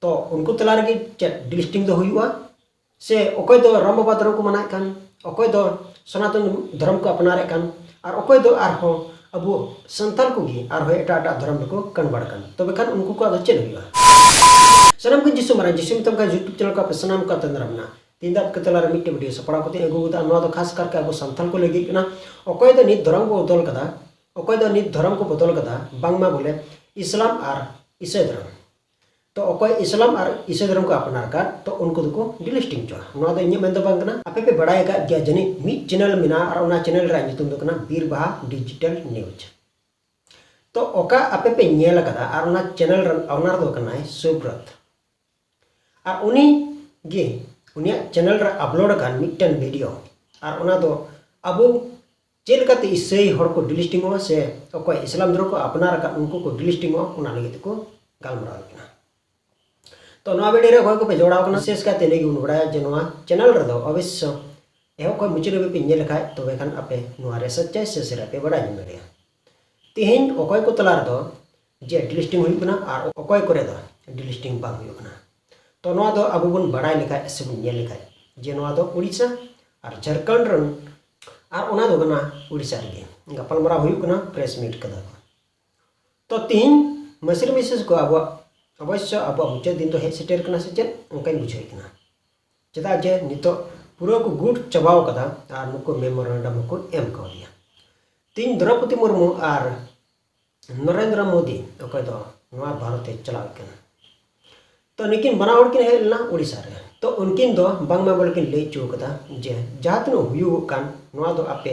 ᱛᱚ ᱩᱱᱠᱩ ᱛᱟᱞᱟ ᱨᱮᱜᱮ ᱪᱮᱫ ᱰᱤᱥᱴᱤᱝ ᱫᱚ ᱦᱩᱭᱩᱜᱼᱟ ᱥᱮ ᱚᱠᱚᱭ ᱫᱚ ᱨᱟᱢ ᱵᱟᱵᱟ ᱫᱷᱚᱨᱚᱢ ᱠᱚ ᱢᱟᱱᱟᱣᱮᱫ ᱠᱟᱱ ᱚᱠᱚᱭ ᱫᱚ ᱥᱚᱱᱟᱛᱚᱱ ᱫᱷᱚᱨᱚᱢ ᱠᱚ ᱟᱯᱱᱟᱨᱮᱫ ᱠᱟᱱ ᱟᱨ ᱚᱠᱚᱭ ᱫᱚ ᱟᱨᱦᱚᱸ ᱟᱵᱚ ᱥᱟᱱᱛᱟᱲ ᱠᱚᱜᱮ ᱟᱨᱦᱚᱸ ᱮᱴᱟᱜ ᱮᱴᱟᱜ ᱫᱷᱚᱨᱚᱢ ᱨᱮᱠᱚ ᱠᱚᱱᱵᱷᱟᱨᱴ ᱠᱟᱱ ᱛᱚᱵᱮ ᱠᱷᱟᱱ ᱩᱱᱠᱩ ᱠᱚᱣᱟᱜ ᱫᱚ ᱪᱮᱫ ᱦᱩᱭᱩᱜᱼᱟ ᱥᱟᱱᱟᱢ ᱠᱚ ᱡᱤᱥᱩ ᱢᱟᱨᱟᱝ ᱡᱤᱥᱩ ᱢᱮᱛᱟᱢ ᱠᱟᱱ ᱭᱩᱴᱩᱵᱽ ᱪᱮᱱᱮᱞ ᱠᱚ ᱟᱯᱮ ᱥᱟᱱᱟᱢ ᱠᱚ ᱛᱟᱸᱫᱽᱨᱟ ᱢᱮᱱᱟᱜᱼᱟ ᱛᱮᱦᱮᱧ ᱫᱚ ᱟᱯᱮ ᱛᱟᱞᱟ ᱨᱮ ᱢᱤᱫᱴᱮᱱ ᱵᱷᱤᱰᱤᱭᱳ ᱥᱟᱯᱲᱟᱣ ᱠᱟᱛᱮ ᱟᱹᱜᱩ ᱠᱟᱫᱟ ᱱᱚᱣᱟ ᱫᱚ ᱠᱷᱟᱥ ᱠᱟᱨᱠᱮ ᱟᱵᱚ ᱥᱟᱱᱛᱟᱲ ᱠᱚ ᱞᱟᱹᱜᱤᱫ ᱠᱟᱱᱟ ᱚᱠᱚᱭ ᱫᱚ ᱱᱤᱛ ᱫᱷᱚᱨᱚᱢ ᱠᱚ ᱵᱚᱫᱚᱞ ᱠᱟᱫᱟ ᱚᱠᱚᱭ ᱫᱚ ᱱᱤᱛ ᱫᱷᱚᱨᱚᱢ ᱠᱚ ᱵᱚᱫᱚᱞ ᱠᱟᱫᱟ ᱵᱟᱝᱢᱟ ᱵᱚᱞᱮ ᱤᱥᱞᱟᱢ ᱟᱨ ᱤᱥᱟᱹᱭ ᱫᱷᱚᱨᱚᱢ ᱛᱚ ᱚᱠᱚᱭ ᱤᱥᱞᱟᱢ ᱟᱨ ᱤᱥᱟᱹ ᱫᱷᱚᱨᱚᱢ ᱠᱚ ᱟᱯᱱᱟᱨ ᱟᱠᱟᱫ ᱛᱚ ᱩᱱᱠᱩ ᱫᱚᱠᱚ ᱰᱤᱞᱤᱥᱴᱤᱝ ᱪᱚᱜᱼᱟ ᱱᱚᱣᱟ ᱫᱚ ᱤᱧᱟᱹᱜ ᱢᱮᱱ ᱫᱚ ᱵᱟᱝ ᱠᱟᱱᱟ ᱟᱯᱮ ᱯᱮ ᱵᱟᱲᱟᱭ ᱟᱠᱟᱫ ᱜᱮᱭᱟ ᱡᱟᱹᱱᱤᱡ ᱢᱤᱫ ᱪᱮᱱᱮᱞ ᱢᱮᱱᱟᱜᱼᱟ ᱟᱨ ᱚᱱᱟ ᱪᱮᱱᱮᱞ ᱨᱮᱭᱟᱜ ᱧᱩᱛᱩᱢ ᱫᱚ ᱠᱟᱱᱟ ᱵᱤᱨ ᱵᱟᱦᱟ ᱰᱤᱡᱤᱴᱟᱞ ᱱᱤᱭᱩᱡᱽ ᱛᱚ ᱚᱠᱟ ᱟᱯᱮ ᱯᱮ ᱧᱮᱞ ᱟᱠᱟᱫᱟ ᱟᱨ ᱚᱱᱟ ᱪᱮᱱᱮᱞ ᱨᱮᱱ ᱚᱱᱟᱨ ᱫᱚ ᱠᱟᱱᱟᱭ ᱥᱩᱵᱨᱚᱛ ᱟᱨ ᱩᱱᱤ ᱜᱮ ᱩᱱᱤᱭᱟᱜ ᱪᱮᱱᱮᱞ ᱨᱮ ᱟᱯᱞᱳᱰ ᱟᱠᱟᱱ ᱢᱤᱫᱴᱮᱱ ᱵᱷᱤᱰᱤᱭᱳ ᱟᱨ ᱚᱱᱟ ᱫᱚ ᱟᱵᱚ ᱪᱮᱫ ᱞᱮᱠᱟᱛᱮ ᱤᱥᱟᱹᱭ ᱦᱚᱲ ᱠᱚ ᱰᱤᱞᱤᱥᱴᱤᱝᱚᱜᱼᱟ ᱥᱮ ᱚᱠᱚᱭ ᱤᱥᱞᱟᱢ ᱫᱷᱚᱨᱚᱢ ᱠᱚ ᱟᱯᱱᱟᱨ ᱟᱠᱟᱫ ᱩᱱᱠᱩ ᱠᱚ ᱰᱤᱞᱤᱥᱴᱤᱝᱚᱜᱼᱟ ᱚᱱᱟ ᱞᱟᱹᱜᱤᱫ ᱛᱮᱠᱚ ᱜᱟᱞᱢᱟᱨᱟᱣ ᱠᱟᱱᱟ ᱛᱚ ᱱᱚᱣᱟ ᱵᱷᱤᱰᱤᱭᱳ ᱨᱮ ᱚᱠᱚᱭ ᱠᱚᱯᱮ ᱡᱚᱲᱟᱣ ᱠᱟᱱᱟ ᱵᱤᱥᱮᱥ ᱠᱟᱭᱛᱮ ᱱᱤᱭᱟᱹ ᱜᱮᱵᱚᱱ ᱵᱟᱲᱟᱭᱟ ᱡᱮ ᱱᱚᱣᱟ ᱪᱮᱱᱮᱞ ᱨᱮᱫᱚ ᱚᱵᱚᱥᱥᱚ ᱮᱦᱚᱵ ᱠᱷᱚᱱ ᱢᱩᱪᱟᱹᱫ ᱦᱟᱹᱵᱤᱡ ᱯᱮ ᱧᱮᱞ ᱞᱮᱠᱷᱟᱡ ᱛᱚᱵᱮ ᱠᱷᱟᱱ ᱟᱯᱮ ᱱᱚᱣᱟ ᱨᱮ ᱥᱚᱪᱪᱟᱭ ᱥᱮ ᱥᱮᱨᱟ ᱯᱮ ᱵᱟᱲᱟᱭ ᱧᱟᱢ ᱫᱟᱲᱮᱭᱟᱜᱼᱟ ᱛᱮᱦᱮᱧ ᱚᱠᱚᱭ ᱠᱚ ᱛᱟᱞᱟ ᱨᱮᱫᱚ ᱡᱮ ᱰᱤᱞᱤᱥᱴᱤᱝ ᱦᱩᱭᱩᱜ ᱠᱟᱱᱟ ᱟᱨ ᱚᱠᱚᱭ ᱠᱚᱨᱮ ᱫᱚ ᱰᱤᱞᱤᱥᱴᱤᱝ ᱵᱟᱝ ᱦᱩᱭᱩᱜ ᱠᱟᱱᱟ ᱛᱚ ᱱᱚᱣᱟ ᱫᱚ ᱟᱵᱚ ᱵᱚᱱ ᱵᱟᱲᱟᱭ ᱞᱮᱠᱷᱟᱡ ᱥᱮ ᱵᱚᱱ ᱧᱮᱞ ᱞᱮᱠᱷᱟᱡ ᱡᱮ ᱱᱚᱣᱟ ᱫᱚ ᱩᱲᱤᱥᱥᱟ ᱟᱨ ᱡᱷᱟᱲᱠᱷᱚᱸᱰ ᱨᱮᱱ ᱟᱨ ᱚᱱᱟ ᱫᱚ ᱠᱟᱱᱟ ᱩᱲᱤᱥᱥᱟ ᱨᱮᱜᱮ ᱜᱟᱯᱟᱞᱢᱟᱨᱟᱣ ᱦᱩᱭᱩᱜ ᱠᱟᱱᱟ ᱯᱨᱮᱥ ᱢᱤᱴ ᱠᱟᱫᱟ ᱠᱚ ᱛᱚ ᱛᱤᱦᱤᱧ ᱢᱟᱹᱥᱨᱤ ᱢᱤᱥᱮᱥ ᱠᱚ ᱟᱵᱚᱣᱟᱜ ᱚᱵᱚᱥᱥᱚ ᱟᱵᱚᱣᱟᱜ ᱢᱩᱪᱟᱹᱫ ᱫᱤᱱ ᱫᱚ ᱦᱮᱡ ᱥᱮᱴᱮᱨ ᱠᱟᱱᱟ ᱥᱮ ᱪᱮᱫ ᱚᱱᱠᱟᱧ ᱵᱩᱡᱷᱟᱹᱣᱮᱫ ᱠᱟᱱᱟ ᱪᱮᱫᱟᱜ ᱡᱮ ᱱᱤᱛᱚᱜ ᱯᱩᱨᱟᱹ ᱠᱚ ᱜᱩᱴ ᱪᱟᱵᱟᱣ ᱠᱟᱫᱟ ᱟᱨ ᱱᱩᱠᱩ ᱢᱮᱢᱳᱨᱮᱱᱰᱟᱢ ᱦᱚᱸᱠᱚ ᱮᱢ ᱠᱟᱣᱫᱮᱭᱟ ᱛᱤᱦᱤᱧ ᱫᱨᱚᱯᱚᱫᱤ ᱢᱩᱨᱢᱩ ᱟᱨ ᱱᱚᱨᱮᱱᱫᱨᱚ ᱢᱳᱫᱤ ᱚᱠᱚᱭ ᱫᱚ ᱱᱚᱣᱟ ᱵᱷᱟᱨᱚᱛᱮ ᱪᱟᱞᱟᱣ ᱠᱟᱱᱟ ᱛᱚ ᱱᱩᱠᱤᱱ ᱵᱟᱱᱟ ᱦᱚᱲ ᱠᱤᱱ ᱦᱮᱡ ᱞᱮᱱᱟ ᱳᱰᱤᱥᱟ ᱨᱮ ᱛᱚ ᱩᱱᱠᱤᱱ ᱫᱚ ᱵᱟᱝᱢᱟ ᱵᱚᱞᱮ ᱠᱤᱱ ᱞᱟᱹᱭ ᱦᱚᱪᱚ ᱠᱟᱫᱟ ᱡᱮ ᱡᱟᱦᱟᱸ ᱛᱤᱱᱟᱹᱜ ᱦᱩᱭᱩᱜᱚᱜ ᱠᱟᱱ ᱱᱚᱣᱟ ᱫᱚ ᱟᱯᱮ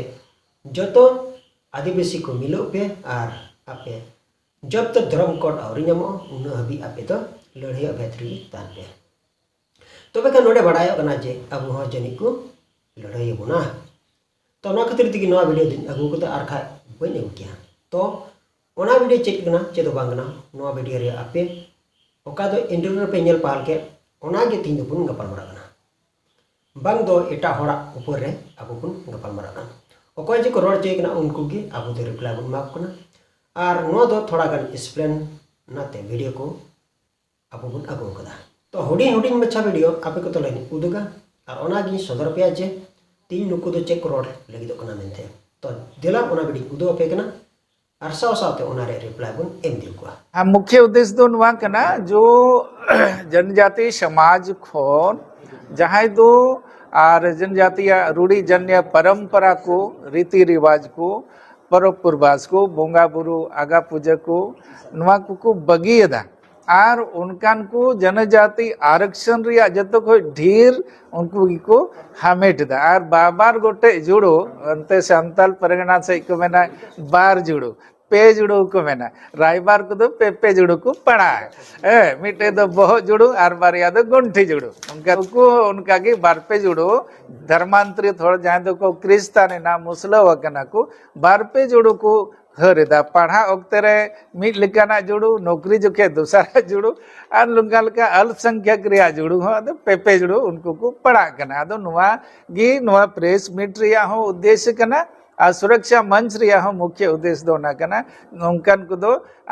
ᱡᱚᱛᱚ ᱟᱹᱫᱤᱵᱟᱹᱥᱤ ᱠᱚ ᱢᱤᱞᱟᱹᱜ ᱯᱮ ᱟᱨ ᱟᱯᱮ ᱡᱚᱵ ᱛᱚᱠ ᱫᱷᱚᱨᱚᱢ ᱠᱳᱰ ᱟᱹᱣᱨᱤ ᱧᱟᱢᱚᱜᱼᱟ ᱩᱱᱟᱹᱜ ᱦᱟᱹᱵᱤᱡ ᱟᱯᱮ ᱫᱚ ᱞᱟᱹᱲᱦᱟᱹᱭ ᱚᱵᱷᱮᱫ ᱨᱮᱜᱮ ᱛᱟᱦᱮᱱ ᱯᱮ ᱛᱚᱵᱮ ᱠᱷᱟᱱ ᱱᱚᱰᱮ ᱵᱟᱰᱟᱭᱚᱜ ᱠᱟᱱᱟ ᱡᱮ ᱟᱵᱚ ᱦᱚᱸ ᱡᱟᱹᱱᱤᱡ ᱠᱚ ᱞᱟᱹᱲᱦᱟᱹᱭ ᱟᱵᱚᱱᱟ ᱛᱚ ᱚᱱᱟ ᱠᱷᱟᱹᱛᱤᱨ ᱛᱮᱜᱮ ᱱᱚᱣᱟ ᱵᱷᱤᱰᱤᱭᱳ ᱫᱚᱧ ᱟᱹᱜᱩ ᱠᱟᱫᱟ ᱟᱨ ᱠᱷᱟᱡ ᱵᱟᱹᱧ ᱟᱹᱜᱩ ᱠᱮᱭᱟ ᱛᱚ ᱚᱱᱟ ᱵᱷᱤᱰᱤᱭᱳ ᱪᱮᱫ ᱠᱟᱱᱟ ᱪᱮᱫ ᱫᱚ ᱵᱟᱝ ᱠᱟᱱᱟ ᱱᱚᱣᱟ ᱵᱷᱤᱰᱤᱭᱳ ᱨᱮ ᱟᱯᱮ ᱚᱠᱟ ᱫᱚ ᱤᱱᱴᱟᱨᱱᱮᱴ ᱨᱮᱯᱮ ᱧᱮᱞ ᱯᱟᱦᱟᱞ ᱠᱮᱫ ᱚᱱᱟᱜᱮ ᱛᱤᱦᱤᱧ ᱫᱚᱵᱚᱱ ᱜᱟᱯᱟᱞ ᱢᱟᱨᱟᱜ ᱠᱟᱱᱟ ᱵᱟᱝ ᱫᱚ ᱮᱴᱟᱜ ᱦᱚᱲᱟᱜ ᱩᱯᱚᱨ ᱨᱮ ᱟᱵᱚ ᱵᱚᱱ ᱜᱟᱯᱟᱞ ᱢᱟᱨᱟᱜ ᱠᱟᱱᱟ ᱚᱠᱚᱭ ᱡᱮᱠᱚ ᱨᱚᱲ ᱦᱚᱪᱚᱭᱮ ᱠᱟᱱᱟ ᱩᱱᱠᱩ ᱜᱮ ᱟᱵᱚ ᱫᱚ ᱨᱤᱯᱞᱟᱭ ᱵᱚᱱ ᱮᱢᱟ ᱠᱚ ᱠᱟᱱᱟ ᱟᱨ ᱱᱚᱣᱟ ᱫᱚ ᱛᱷᱚᱲᱟ ᱜᱟᱱ ᱮᱠᱥᱯᱞᱮᱱ ᱚᱱᱟᱛᱮ ᱵᱷᱤᱰᱤᱭᱳ ᱠᱚ ᱟᱵᱚ ᱵᱚᱱ ᱟᱹᱜᱩ ᱟᱠᱟᱫᱟ ᱛᱚ ᱦᱩᱰᱤᱧ ᱦᱩᱰᱤᱧ ᱢᱟᱪᱷᱟ ᱵᱷᱤᱰᱤᱭᱳ ᱟᱯᱮ ᱠᱚ ᱛᱟᱞᱟᱧ ᱩᱫᱩᱜᱟ ᱟᱨ ᱚᱱᱟᱜᱤᱧ ᱥᱚᱫᱚᱨ ᱯᱮᱭᱟ ᱡᱮ ᱛᱤᱧ ᱱᱩᱠᱩ ᱫᱚ ᱪᱮᱫ ᱠᱚ ᱨᱚᱲ ᱞᱟᱹᱜᱤᱫᱚᱜ ᱠᱟᱱᱟ ᱢᱮᱱᱛᱮ ᱛᱚ ᱫᱮᱞᱟ ᱚᱱᱟ ᱵᱷᱤᱰᱤᱭᱳᱧ ᱩᱫᱩᱜ ᱟᱯᱮ ᱠᱟᱱᱟ ᱟᱨ ᱥᱟᱶ ᱥᱟᱶᱛᱮ ᱚᱱᱟ ᱨᱮ ᱨᱤᱯᱞᱟᱭ ᱵᱚᱱ ᱮᱢ ᱤᱫᱤ ᱠᱚᱣᱟ ᱟᱨ ᱢᱩᱠᱷᱭᱟᱹ ᱩᱫᱮᱥ ᱫᱚ ᱱᱚᱣᱟ ᱠᱟᱱᱟ ᱡᱚ ᱡᱚᱱᱡᱟᱛᱤ ᱥᱚᱢᱟᱡᱽ ᱠᱷᱚᱱ ᱡᱟᱦᱟᱸᱭ ᱫᱚ ᱟᱨ ᱡᱚᱱᱡᱟᱛᱤᱭᱟ ᱨᱩᱲᱤ ᱡᱟᱱᱭᱟ ᱯᱚᱨᱚᱢᱯᱚᱨᱟ ᱠᱚ ᱨᱤᱛᱤ ᱨᱤᱣᱟᱡᱽ ᱠᱚ ᱯᱚᱨᱚᱵᱽ ᱯᱩᱨᱵᱟᱥ ᱠᱚ ᱵᱚᱸᱜᱟ ᱵᱩᱨᱩ ᱟᱜᱟ ᱯᱩᱡᱟᱹ ᱠᱚ ᱱᱚᱣᱟ ᱠᱚᱠᱚ ᱵᱟᱹᱜᱤᱭᱮᱫᱟ ᱟᱨ ᱚᱱᱠᱟᱱ ᱠᱚ ᱡᱚᱱᱚᱡᱟᱛᱤ ᱟᱨᱚᱠᱥᱚᱱ ᱨᱮᱭᱟᱜ ᱡᱚᱛᱚ ᱠᱷᱚᱱ ᱰᱷᱮᱨ ᱩᱱᱠᱩ ᱜᱮᱠᱚ ᱦᱟᱢᱮᱴ ᱮᱫᱟ ᱟᱨ ᱵᱟᱵᱟᱨ ᱜᱚᱴᱮᱡ ᱡᱩᱲᱳ ᱚᱱᱛᱮ ᱥᱟᱱᱛᱟᱞ ᱯᱟᱨᱜᱟᱱᱟ ᱥᱮᱫ ᱠᱚ ᱢᱮᱱᱟ ᱵᱟᱨ ᱡᱩᱲᱳ ᱯᱮ ᱡᱩᱲᱳ ᱠᱚ ᱢᱮᱱᱟ ᱨᱟᱭᱵᱟᱨ ᱠᱚᱫᱚ ᱯᱮ ᱯᱮ ᱡᱩᱲᱳ ᱠᱚ ᱯᱟᱲᱟᱜᱼᱟ ᱦᱮᱸ ᱢᱤᱫᱴᱮᱡ ᱫᱚ ᱵᱚᱦᱚᱜ ᱡᱩᱲᱳ ᱟᱨ ᱵᱟᱨᱭᱟ ᱫᱚ ᱜᱚᱱᱴᱷᱤ ᱡᱩᱲᱳ ᱚᱱᱠᱟ ᱩᱱᱠᱩ ᱦᱚᱸ ᱚᱱᱠᱟ ᱜᱮ ᱵᱟᱨ ᱯᱮ ᱡᱩᱲᱳ ᱫᱷᱚᱨᱢᱟᱱᱛᱨᱤᱛ ᱦᱚᱲ ᱡᱟᱦᱟᱸᱭ ᱫᱚᱠᱚ ᱠᱨᱤᱥᱛᱟᱱ ᱮᱱᱟ ᱢᱩᱥᱞᱟᱹᱣ ᱟᱠᱟᱱᱟ ᱠᱚ ᱵᱟᱨ ᱯᱮ ᱡᱩᱲᱳ ᱠᱚ ᱦᱟᱹᱨ ᱮᱫᱟ ᱯᱟᱲᱦᱟᱜ ᱚᱠᱛᱮ ᱨᱮ ᱢᱤᱫ ᱞᱮᱠᱟᱱᱟᱜ ᱡᱩᱲᱩ ᱱᱚᱠᱨᱤ ᱡᱚᱠᱷᱮᱡ ᱫᱚᱥᱟᱨᱟᱜ ᱡᱩᱲᱩ ᱟᱨ ᱱᱚᱝᱠᱟ ᱞᱮᱠᱟ ᱟᱞᱯᱥᱚᱝᱠᱷᱭᱚᱠ ᱨᱮᱭᱟᱜ ᱡᱩᱲᱩ ᱦᱚᱸ ᱟᱫᱚ ᱯᱮᱯᱮ ᱡᱩᱲᱩ ᱩᱱᱠᱩ ᱠᱚ ᱯᱟᱲᱟᱜ ᱠᱟᱱᱟ ᱟᱫᱚ ᱱᱚᱣᱟ ᱜᱮ ᱱᱚᱣᱟ ᱯᱨᱮᱥ ᱢᱤᱴ ᱨᱮᱭᱟᱜ ᱦᱚᱸ ᱩᱫᱽᱫᱮᱥᱥᱚ ᱠᱟᱱᱟ ᱟᱨ ᱥᱩᱨᱚᱠᱥᱟ ᱢᱚᱧᱪ ᱨᱮᱭᱟᱜ ᱦᱚᱸ ᱢᱩᱠᱷᱭᱚ ᱩᱫᱽᱫᱮᱥᱥᱚ ᱫᱚ ᱚᱱᱟ ᱠᱟᱱᱟ ᱱᱚᱝᱠᱟᱱ ᱠᱚᱫᱚ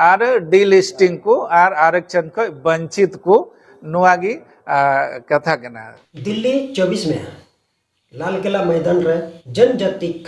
ᱟᱨ ᱰᱤᱞᱤᱥᱴᱤᱝ ᱠᱚ ᱟᱨ ᱟᱨᱚᱠᱪᱷᱚᱱ ᱠᱷᱚᱱ ᱵᱚᱧᱪᱤᱛ ᱠᱚ ᱱᱚᱣᱟ ᱜᱮ ᱠᱟᱛᱷᱟ ᱠᱟᱱᱟ ᱫᱤᱞᱞᱤ ᱪᱚᱵᱵᱤᱥ ᱢᱮ ᱞᱟᱞ ᱠᱮᱞᱟ ᱢᱚᱭᱫᱟᱱ ᱨᱮ ᱡᱚᱱᱡᱟᱛᱤᱠ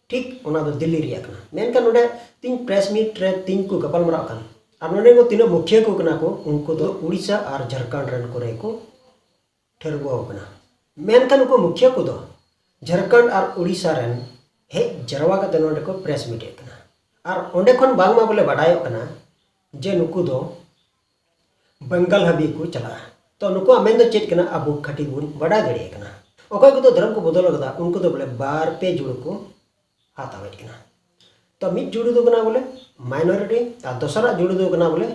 ᱴᱷᱤᱠ ᱚᱱᱟ ᱫᱚ ᱫᱤᱞᱞᱤ ᱨᱮᱭᱟᱜ ᱠᱟᱱᱟ ᱢᱮᱱᱠᱷᱟᱱ ᱱᱚᱰᱮ ᱛᱤᱧ ᱯᱨᱮᱥ ᱢᱤᱴ ᱨᱮ ᱛᱤᱧ ᱠᱚ ᱜᱟᱯᱟᱞ ᱢᱟᱨᱟᱜ ᱠᱟᱱ ᱟᱨ ᱱᱚᱰᱮ ᱠᱚ ᱛᱤᱱᱟᱹᱜ ᱢᱩᱠᱷᱤᱭᱟᱹ ᱠᱚ ᱠᱟᱱᱟ ᱠᱚ ᱩᱱᱠᱩ ᱫᱚ ᱩᱲᱤᱥᱥᱟ ᱟᱨ ᱡᱷᱟᱨᱠᱷᱚᱸᱰ ᱨᱮᱱ ᱠᱚᱨᱮ ᱠᱚ ᱴᱷᱟᱹᱨᱣᱟᱹ ᱟᱠᱟᱱᱟ ᱢᱮᱱᱠᱷᱟᱱ ᱩᱱᱠᱩ ᱢᱩᱠᱷᱤᱭᱟᱹ ᱠᱚᱫᱚ ᱡᱷᱟᱨᱠᱷᱚᱸᱰ ᱟᱨ ᱩᱲᱤᱥᱥᱟ ᱨᱮᱱ ᱦᱮᱡ ᱡᱟᱨᱣᱟ ᱠᱟᱛᱮ ᱱᱚᱰᱮ ᱠᱚ ᱯᱨᱮᱥ ᱢᱤᱴ ᱮᱫ ᱠᱟᱱᱟ ᱟᱨ ᱚᱸᱰᱮ ᱠᱷᱚᱱ ᱵᱟᱝᱢᱟ ᱵᱚᱞᱮ ᱵᱟᱰᱟᱭᱚᱜ ᱠᱟᱱᱟ ᱡᱮ ᱱᱩᱠᱩ ᱫᱚ ᱵᱮᱝᱜᱟᱞ ᱦᱟᱹᱵᱤᱡ ᱠᱚ ᱪᱟᱞᱟᱜᱼᱟ ᱛᱚ ᱱᱩᱠᱩᱣᱟᱜ ᱢᱮᱱ ᱫᱚ ᱪᱮᱫ ᱠᱟᱱᱟ ᱟᱵᱚ ᱠᱷᱟᱹᱴᱤ ᱵᱚᱱ ᱵᱟᱰᱟᱭ ᱫᱟᱲᱮᱭᱟᱜ ᱠᱟᱱᱟ ᱚᱠᱚᱭ ᱠᱚᱫᱚ ᱫᱷᱚᱨᱚᱢ ᱠᱚ ᱵᱚᱫᱚᱞ ᱟᱠᱟᱫᱟ ᱩᱱᱠᱩ ᱫᱚ ᱵᱚᱞᱮ ᱵᱟᱨ ᱯᱮ ᱡᱩᱲᱩ ᱠᱚ ᱦᱟᱛᱟᱣᱮᱫ ᱠᱟᱱᱟ ᱛᱚ ᱢᱤᱫ ᱡᱩᱲᱩ ᱫᱚ ᱠᱟᱱᱟ ᱵᱚᱞᱮ ᱢᱟᱭᱱᱚᱨᱤᱴᱤ ᱟᱨ ᱫᱚᱥᱟᱨᱟᱜ ᱡᱩᱲᱩ ᱫᱚ ᱠᱟᱱᱟ ᱵᱚᱞᱮ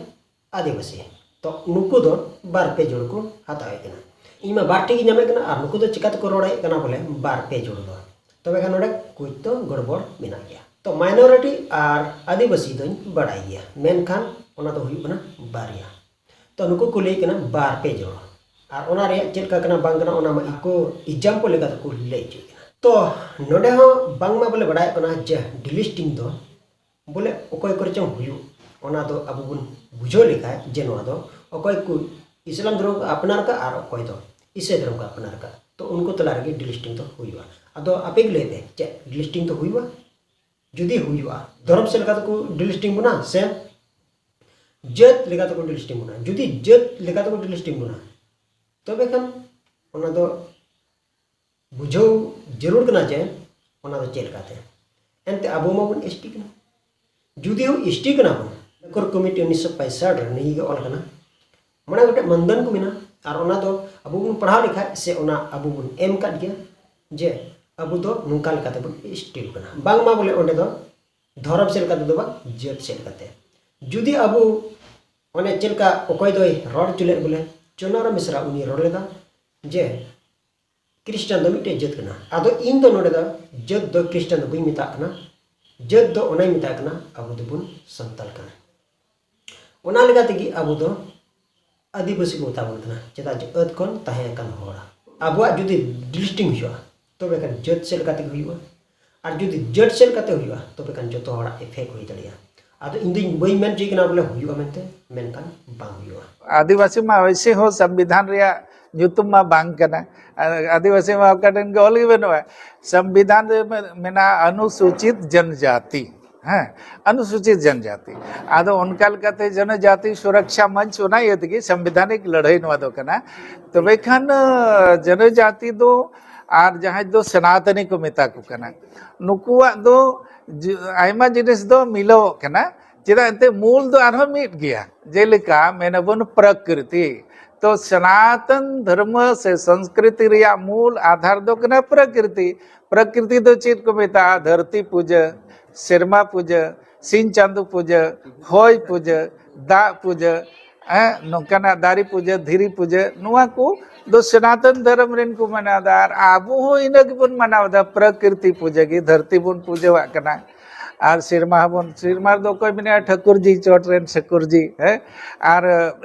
ᱟᱹᱫᱤᱵᱟᱹᱥᱤ ᱛᱚ ᱱᱩᱠᱩ ᱫᱚ ᱵᱟᱨ ᱯᱮ ᱡᱩᱲᱩ ᱠᱚ ᱦᱟᱛᱟᱣᱮᱫ ᱠᱟᱱᱟ ᱤᱧ ᱢᱟ ᱵᱟᱨ ᱴᱷᱤᱠ ᱜᱮ ᱧᱟᱢᱮᱫ ᱠᱟᱱᱟ ᱟᱨ ᱱᱩᱠᱩ ᱫᱚ ᱪᱤᱠᱟᱹ ᱛᱮᱠᱚ ᱨᱚᱲᱮᱫ ᱠᱟᱱᱟ ᱵᱚᱞᱮ ᱵᱟᱨ ᱯᱮ ᱡᱩᱲᱩ ᱫᱚ ᱛᱚᱵᱮ ᱠᱷᱟᱱ ᱱᱚᱰᱮ ᱠᱩᱪ ᱫᱚ ᱜᱚᱲᱵᱚᱲ ᱢᱮᱱᱟᱜ ᱜᱮᱭᱟ ᱛᱚ ᱢᱟᱭᱱᱚᱨᱤᱴᱤ ᱟᱨ ᱟᱹᱫᱤᱵᱟᱹᱥᱤ ᱫᱚᱧ ᱵᱟᱲᱟᱭ ᱜᱮᱭᱟ ᱢᱮᱱᱠᱷᱟᱱ ᱚᱱᱟ ᱫᱚ ᱦᱩᱭᱩᱜ ᱠᱟᱱᱟ ᱵᱟᱨᱭᱟ ᱛᱚ ᱱᱩᱠᱩ ᱠᱚ ᱞᱟᱹᱭ ᱠᱟᱱᱟ ᱵᱟᱨ ᱯᱮ ᱡᱚᱲ ᱟᱨ ᱚᱱᱟ ᱨᱮᱭᱟᱜ ᱪᱮᱫ ᱞᱮᱠᱟ ᱠᱟᱱᱟ ᱵᱟᱝ ᱠᱟᱱᱟ ᱚᱱᱟ ᱢᱟ ᱤᱠᱳ ᱮᱠᱡᱟᱢᱯᱚᱞ ᱞᱮᱠᱟ ᱛᱮᱠᱚ ᱞᱟᱹᱭ ᱦᱚᱪᱚᱭᱮᱫ ᱠᱟᱱᱟ ᱛᱚ ᱱᱚᱰᱮ ᱦᱚᱸ ᱵᱟᱝᱢᱟ ᱵᱚᱞᱮ ᱵᱟᱲᱟᱭᱚᱜ ᱠᱟᱱᱟ ᱡᱮ ᱰᱤᱞᱤᱥᱴᱤᱝ ᱫᱚ ᱵᱚᱞᱮ ᱚᱠᱚᱭ ᱠᱚᱨᱮ ᱪᱚᱝ ᱦᱩᱭᱩᱜ ᱚᱱᱟ ᱫᱚ ᱟᱵᱚ ᱵᱚᱱ ᱵᱩᱡᱷᱟᱹᱣ ᱞᱮᱠᱷᱟᱡ ᱡᱮ ᱱᱚᱣᱟ ᱫᱚ ᱚᱠᱚᱭ ᱠᱚ ᱤᱥᱞᱟᱢ ᱫᱷᱚᱨᱚᱢ ᱠᱚ ᱟᱯᱱᱟᱨ ᱠᱟᱜᱼᱟ ᱟᱨ ᱚᱠᱚᱭ ᱫᱚ ᱤᱥᱟᱹᱭ ᱫᱷᱚᱨᱚᱢ ᱠᱚ ᱟᱯᱱᱟᱨ ᱠᱟᱜᱼᱟ ᱛᱚ ᱩᱱᱠᱩ ᱛᱟᱞᱟ ᱨᱮᱜᱮ ᱰᱤᱞᱤᱥᱴᱤᱝ ᱫᱚ ᱦᱩᱭᱩᱜᱼᱟ ᱟᱫᱚ ᱟᱯᱮ ᱜᱮ ᱞᱟᱹᱭ ᱯᱮ ᱪᱮᱫ ᱰᱤᱞᱤᱥᱴᱤᱝ ᱫᱚ ᱦᱩᱭᱩᱜᱼᱟ ᱡᱩᱫᱤ ᱦᱩᱭᱩᱜᱼᱟ ᱫᱷᱚᱨᱚᱢ ᱥᱮᱫ ᱞᱮᱠᱟ ᱛᱮᱠᱚ ᱰᱤᱞᱤᱥᱴᱤᱝ ᱵᱚᱱᱟ ᱥᱮ ᱡᱟᱹᱛ ᱞᱮᱠᱟ ᱛᱮᱠᱚ ᱰᱤᱞᱤᱥᱴᱤᱝ ᱵᱚᱱᱟ ᱡᱩᱫᱤ ᱡᱟᱹᱛ ᱞᱮᱠᱟ ᱛᱮᱠᱚ ᱰᱤᱞᱤᱥᱴᱤᱝ ᱵᱚᱱᱟ ᱛᱚᱵᱮ ᱠᱷᱟᱱ ᱚᱱᱟ ᱫᱚ ᱵᱩᱡᱷᱟᱹᱣ ᱡᱟᱹᱨᱩᱲ ᱠᱟᱱᱟ ᱡᱮ ᱚᱱᱟ ᱫᱚ ᱪᱮᱫ ᱞᱮᱠᱟᱛᱮ ᱮᱱᱛᱮ ᱟᱵᱚ ᱢᱟᱵᱚᱱ ᱮᱥ ᱴᱤ ᱠᱟᱱᱟ ᱡᱩᱫᱤ ᱦᱚᱸ ᱮᱥ ᱴᱤ ᱠᱟᱱᱟ ᱵᱚᱱ ᱠᱚᱨ ᱠᱚᱢᱤᱴᱤ ᱩᱱᱤᱥᱥᱚ ᱯᱚᱸᱭᱥᱟᱴ ᱨᱮ ᱱᱤᱭᱟᱹ ᱜᱮ ᱚᱞ ᱠᱟᱱᱟ ᱢᱚᱬᱮ ᱜᱚᱴᱮᱡ ᱢᱟᱱᱫᱟᱱ ᱠᱚ ᱢᱮᱱᱟᱜᱼᱟ ᱟᱨ ᱚᱱᱟ ᱫᱚ ᱟᱵᱚ ᱵᱚᱱ ᱯᱟᱲᱦᱟᱣ ᱞᱮᱠᱷᱟᱡ ᱥᱮ ᱚᱱᱟ ᱟᱵᱚ ᱵᱚᱱ ᱮᱢ ᱠᱟᱫ ᱜᱮᱭᱟ ᱡᱮ ᱟᱵᱚ ᱫᱚ ᱱᱚᱝᱠᱟ ᱞᱮᱠᱟᱛᱮ ᱵᱚᱱ ᱮᱥ ᱴᱤ ᱠᱟᱱᱟ ᱵᱟᱝᱢᱟ ᱵᱚᱞᱮ ᱚᱸᱰᱮ ᱫᱚ ᱫᱷᱚᱨᱚᱢ ᱥᱮᱫ ᱞᱮᱠᱟᱛᱮ ᱫᱚ ᱵᱟᱝ ᱡᱟᱹᱛ ᱥᱮᱫ ᱞᱮᱠᱟᱛᱮ ᱡᱩᱫᱤ ᱟᱵᱚ ᱚᱱᱮ ᱪᱮᱫ ᱞᱮᱠᱟ ᱚᱠᱚᱭ ᱫᱚᱭ ᱨᱚᱲ ᱦᱚᱪᱚ ᱞᱮᱫ ᱵᱚᱞᱮ ᱪᱩᱱᱟᱨᱟᱢ ᱵᱮᱥᱨᱟ ᱩᱱᱤ ᱨᱚᱲ ᱞᱮᱫᱟ ᱡᱮ ᱠᱨᱤᱥᱴᱟᱱ ᱫᱚ ᱢᱤᱫᱴᱮᱡ ᱡᱟᱹᱛ ᱠᱟᱱᱟ ᱟᱫᱚ ᱤᱧ ᱫᱚ ᱱᱚᱰᱮ ᱫᱚ ᱡᱟᱹᱛ ᱫᱚ ᱠᱨᱤᱥᱴᱟᱱ ᱫᱚ ᱵᱟᱹᱧ ᱢᱮᱛᱟᱜ ᱠᱟᱱᱟ ᱡᱟᱹᱛ ᱫᱚ ᱚᱱᱟᱧ ᱢᱮᱛᱟᱜ ᱠᱟᱱᱟ ᱟᱵᱚ ᱫᱚᱵᱚᱱ ᱥᱟᱱᱛᱟᱲ ᱠᱟᱱᱟ ᱚᱱᱟ ᱞᱮᱠᱟ ᱛᱮᱜᱮ ᱟᱵᱚ ᱫᱚ ᱟᱹᱫᱤᱵᱟᱹᱥᱤ ᱠᱚ ᱢᱮᱛᱟ ᱵᱚᱱ ᱠᱟᱱᱟ ᱪᱮᱫᱟᱜ ᱡᱮ ᱟᱹᱫ ᱠᱷᱚᱱ ᱛᱟᱦᱮᱸ ᱟᱠᱟᱱ ᱦᱚᱲ ᱟᱵᱚᱣᱟᱜ ᱡᱩᱫᱤ ᱰᱤᱞᱤᱥᱴᱤᱝ ᱦᱩᱭᱩᱜᱼᱟ ᱛᱚᱵᱮ ᱠᱷᱟᱱ ᱡᱟᱹᱛ ᱪᱮᱫ ᱞᱮᱠᱟ ᱛᱮᱜᱮ ᱦᱩᱭᱩᱜᱼᱟ ᱟᱨ ᱡᱩᱫᱤ ᱡᱟᱹᱴ ᱥᱮᱱ ᱠᱟᱛᱮ ᱦᱩᱭᱩᱜᱼᱟ ᱛᱚᱵᱮ ᱠᱷᱟᱱ ᱡᱚᱛᱚ ᱦᱚᱲᱟᱜ ᱜᱮ ᱯᱷᱮᱠ ᱦᱩᱭ ᱫᱟᱲᱮᱭᱟᱜᱼᱟ ᱟᱫᱚ ᱤᱧ ᱫᱚᱧ ᱵᱟᱹᱧ ᱢᱮᱱ ᱦᱚᱪᱚᱭ ᱠᱟᱱᱟ ᱵᱚᱞᱮ ᱦᱩᱭᱩᱜᱼᱟ ᱢᱮᱱᱛᱮ ᱢᱮᱱᱠᱷᱟᱱ ᱵᱟᱝ ᱦᱩᱭᱩᱜᱼᱟ ᱟᱹᱫᱤᱵᱟᱹᱥᱤ ᱢᱟ ᱚᱭᱥᱮ ᱦᱚᱸ ᱥᱚᱝᱵᱤᱫᱷᱟᱱ ᱨᱮᱭᱟᱜ ᱧᱩᱛᱩᱢ ᱢᱟ ᱵᱟᱝ ᱠᱟᱱᱟ ᱟᱹᱫᱤᱵᱟᱹᱥᱤ ᱢᱟ ᱚᱠᱟ ᱴᱷᱮᱱ ᱜᱮ ᱚᱞ ᱜᱮ ᱵᱟᱹᱱᱩᱜᱼᱟ ᱥᱚᱝᱵᱤᱫᱷᱟᱱ ᱨᱮ ᱢᱮᱱᱟᱜᱼᱟ ᱚᱱᱩᱥᱩᱪᱤᱛ ᱡᱚᱱᱡᱟᱛᱤ ᱦᱮᱸ ᱚᱱᱩᱥᱩᱪᱤᱛ ᱡᱚᱱᱡᱟᱛᱤ ᱟᱫᱚ ᱚᱱᱠᱟ ᱞᱮᱠᱟᱛᱮ ᱡᱚᱱᱚᱡᱟᱛᱤ ᱥᱩᱨᱚᱠᱥᱟ ᱢᱚᱧᱪ ᱚᱱᱟ ᱤᱭᱟᱹ ᱛᱮᱜᱮ ᱥᱟᱝᱵᱤᱫᱷᱟᱱᱤᱠ ᱞᱟᱹᱲᱦᱟᱹᱭ ᱱᱚᱣᱟ ᱫᱚ ᱠᱟᱱᱟ ᱛᱚᱵᱮ ᱠᱷᱟᱱ ᱡᱚᱱᱚᱡᱟᱛᱤ ᱫᱚ ᱟᱨ ᱡᱟᱦᱟᱸᱭ ᱫᱚ ᱥᱮᱱᱟᱛᱚᱱᱤ ᱠᱚ ᱢᱮᱛᱟ ᱠᱚ ᱠᱟᱱᱟ ᱱᱩᱠᱩᱣᱟᱜ ᱫᱚ ᱟᱭᱢᱟ ᱡᱤᱱᱤᱥ ᱫᱚ ᱢᱤᱞᱟᱹᱣᱚᱜ ᱠᱟᱱᱟ ᱪᱮᱫᱟᱜ ᱮᱱᱛᱮ ᱢᱩᱞ ᱫᱚ ᱟᱨᱦᱚᱸ ᱢᱤᱫ ᱜᱮᱭᱟ ᱡᱮᱞᱮᱠᱟ ᱢᱮᱱᱟᱵᱚᱱ ᱯᱨᱚᱠᱨᱤᱛᱤ ᱛᱚ ᱥᱚᱱᱟᱛᱚᱱ ᱫᱷᱚᱨᱢ ᱥᱮ ᱥᱚᱝᱥᱠᱨᱤᱛᱤ ᱨᱮᱭᱟᱜ ᱢᱩᱞ ᱟᱫᱷᱟᱨ ᱫᱚ ᱠᱟᱱᱟ ᱯᱨᱚᱠᱨᱤᱛᱤ ᱯᱨᱚᱠᱨᱤᱛᱤ ᱫᱚ ᱪᱮᱫ ᱠᱚ ᱢᱮᱛᱟᱜᱼᱟ ᱫᱷᱟᱹᱨᱛᱤ ᱯᱩᱡᱟᱹ ᱥᱮᱨᱢᱟ ᱯᱩᱡᱟᱹ ᱥᱤᱧ ᱪᱟᱸᱫᱚ ᱯᱩᱡᱟᱹ ᱦᱚᱭ ᱯᱩᱡᱟᱹ ᱫᱟᱜ ᱯᱩᱡᱟᱹ ᱱᱚᱝᱠᱟᱱᱟᱜ ᱫᱟᱨᱮ ᱯᱩᱡᱟᱹ ᱫᱷᱤᱨᱤ ᱯᱩᱡᱟᱹ ᱱᱚᱣᱟ ᱠᱚ ᱫᱚ ᱥᱚᱱᱟᱛᱚᱱ ᱫᱷᱚᱨᱚᱢ ᱨᱮᱱ ᱠᱚ ᱢᱟᱱᱟᱣᱫᱟ ᱟᱨ ᱟᱵᱚ ᱦᱚᱸ ᱤᱱᱟᱹ ᱜᱮᱵᱚᱱ ᱢᱟᱱᱟᱣᱫᱟ ᱯᱨᱚᱠᱨᱤᱛᱤ ᱯᱩᱡᱟᱹ ᱜᱮ ᱫᱷᱟᱹᱨᱛᱤ ᱵᱚᱱ ᱯᱩᱡᱟᱹᱣᱟᱜ ᱠᱟᱱᱟ ᱟᱨ ᱥᱮᱨᱢᱟ ᱦᱚᱸᱵᱚᱱ ᱥᱮᱨᱢᱟ ᱨᱮᱫᱚ ᱚᱠᱚᱭ ᱢᱮᱱᱟᱭᱟ ᱴᱷᱟᱹᱠᱩᱨᱡᱤ ᱪᱚᱴ ᱨᱮᱱ ᱴᱷᱟᱹᱠᱩᱨᱡᱤ ᱦᱮᱸ ᱟᱨ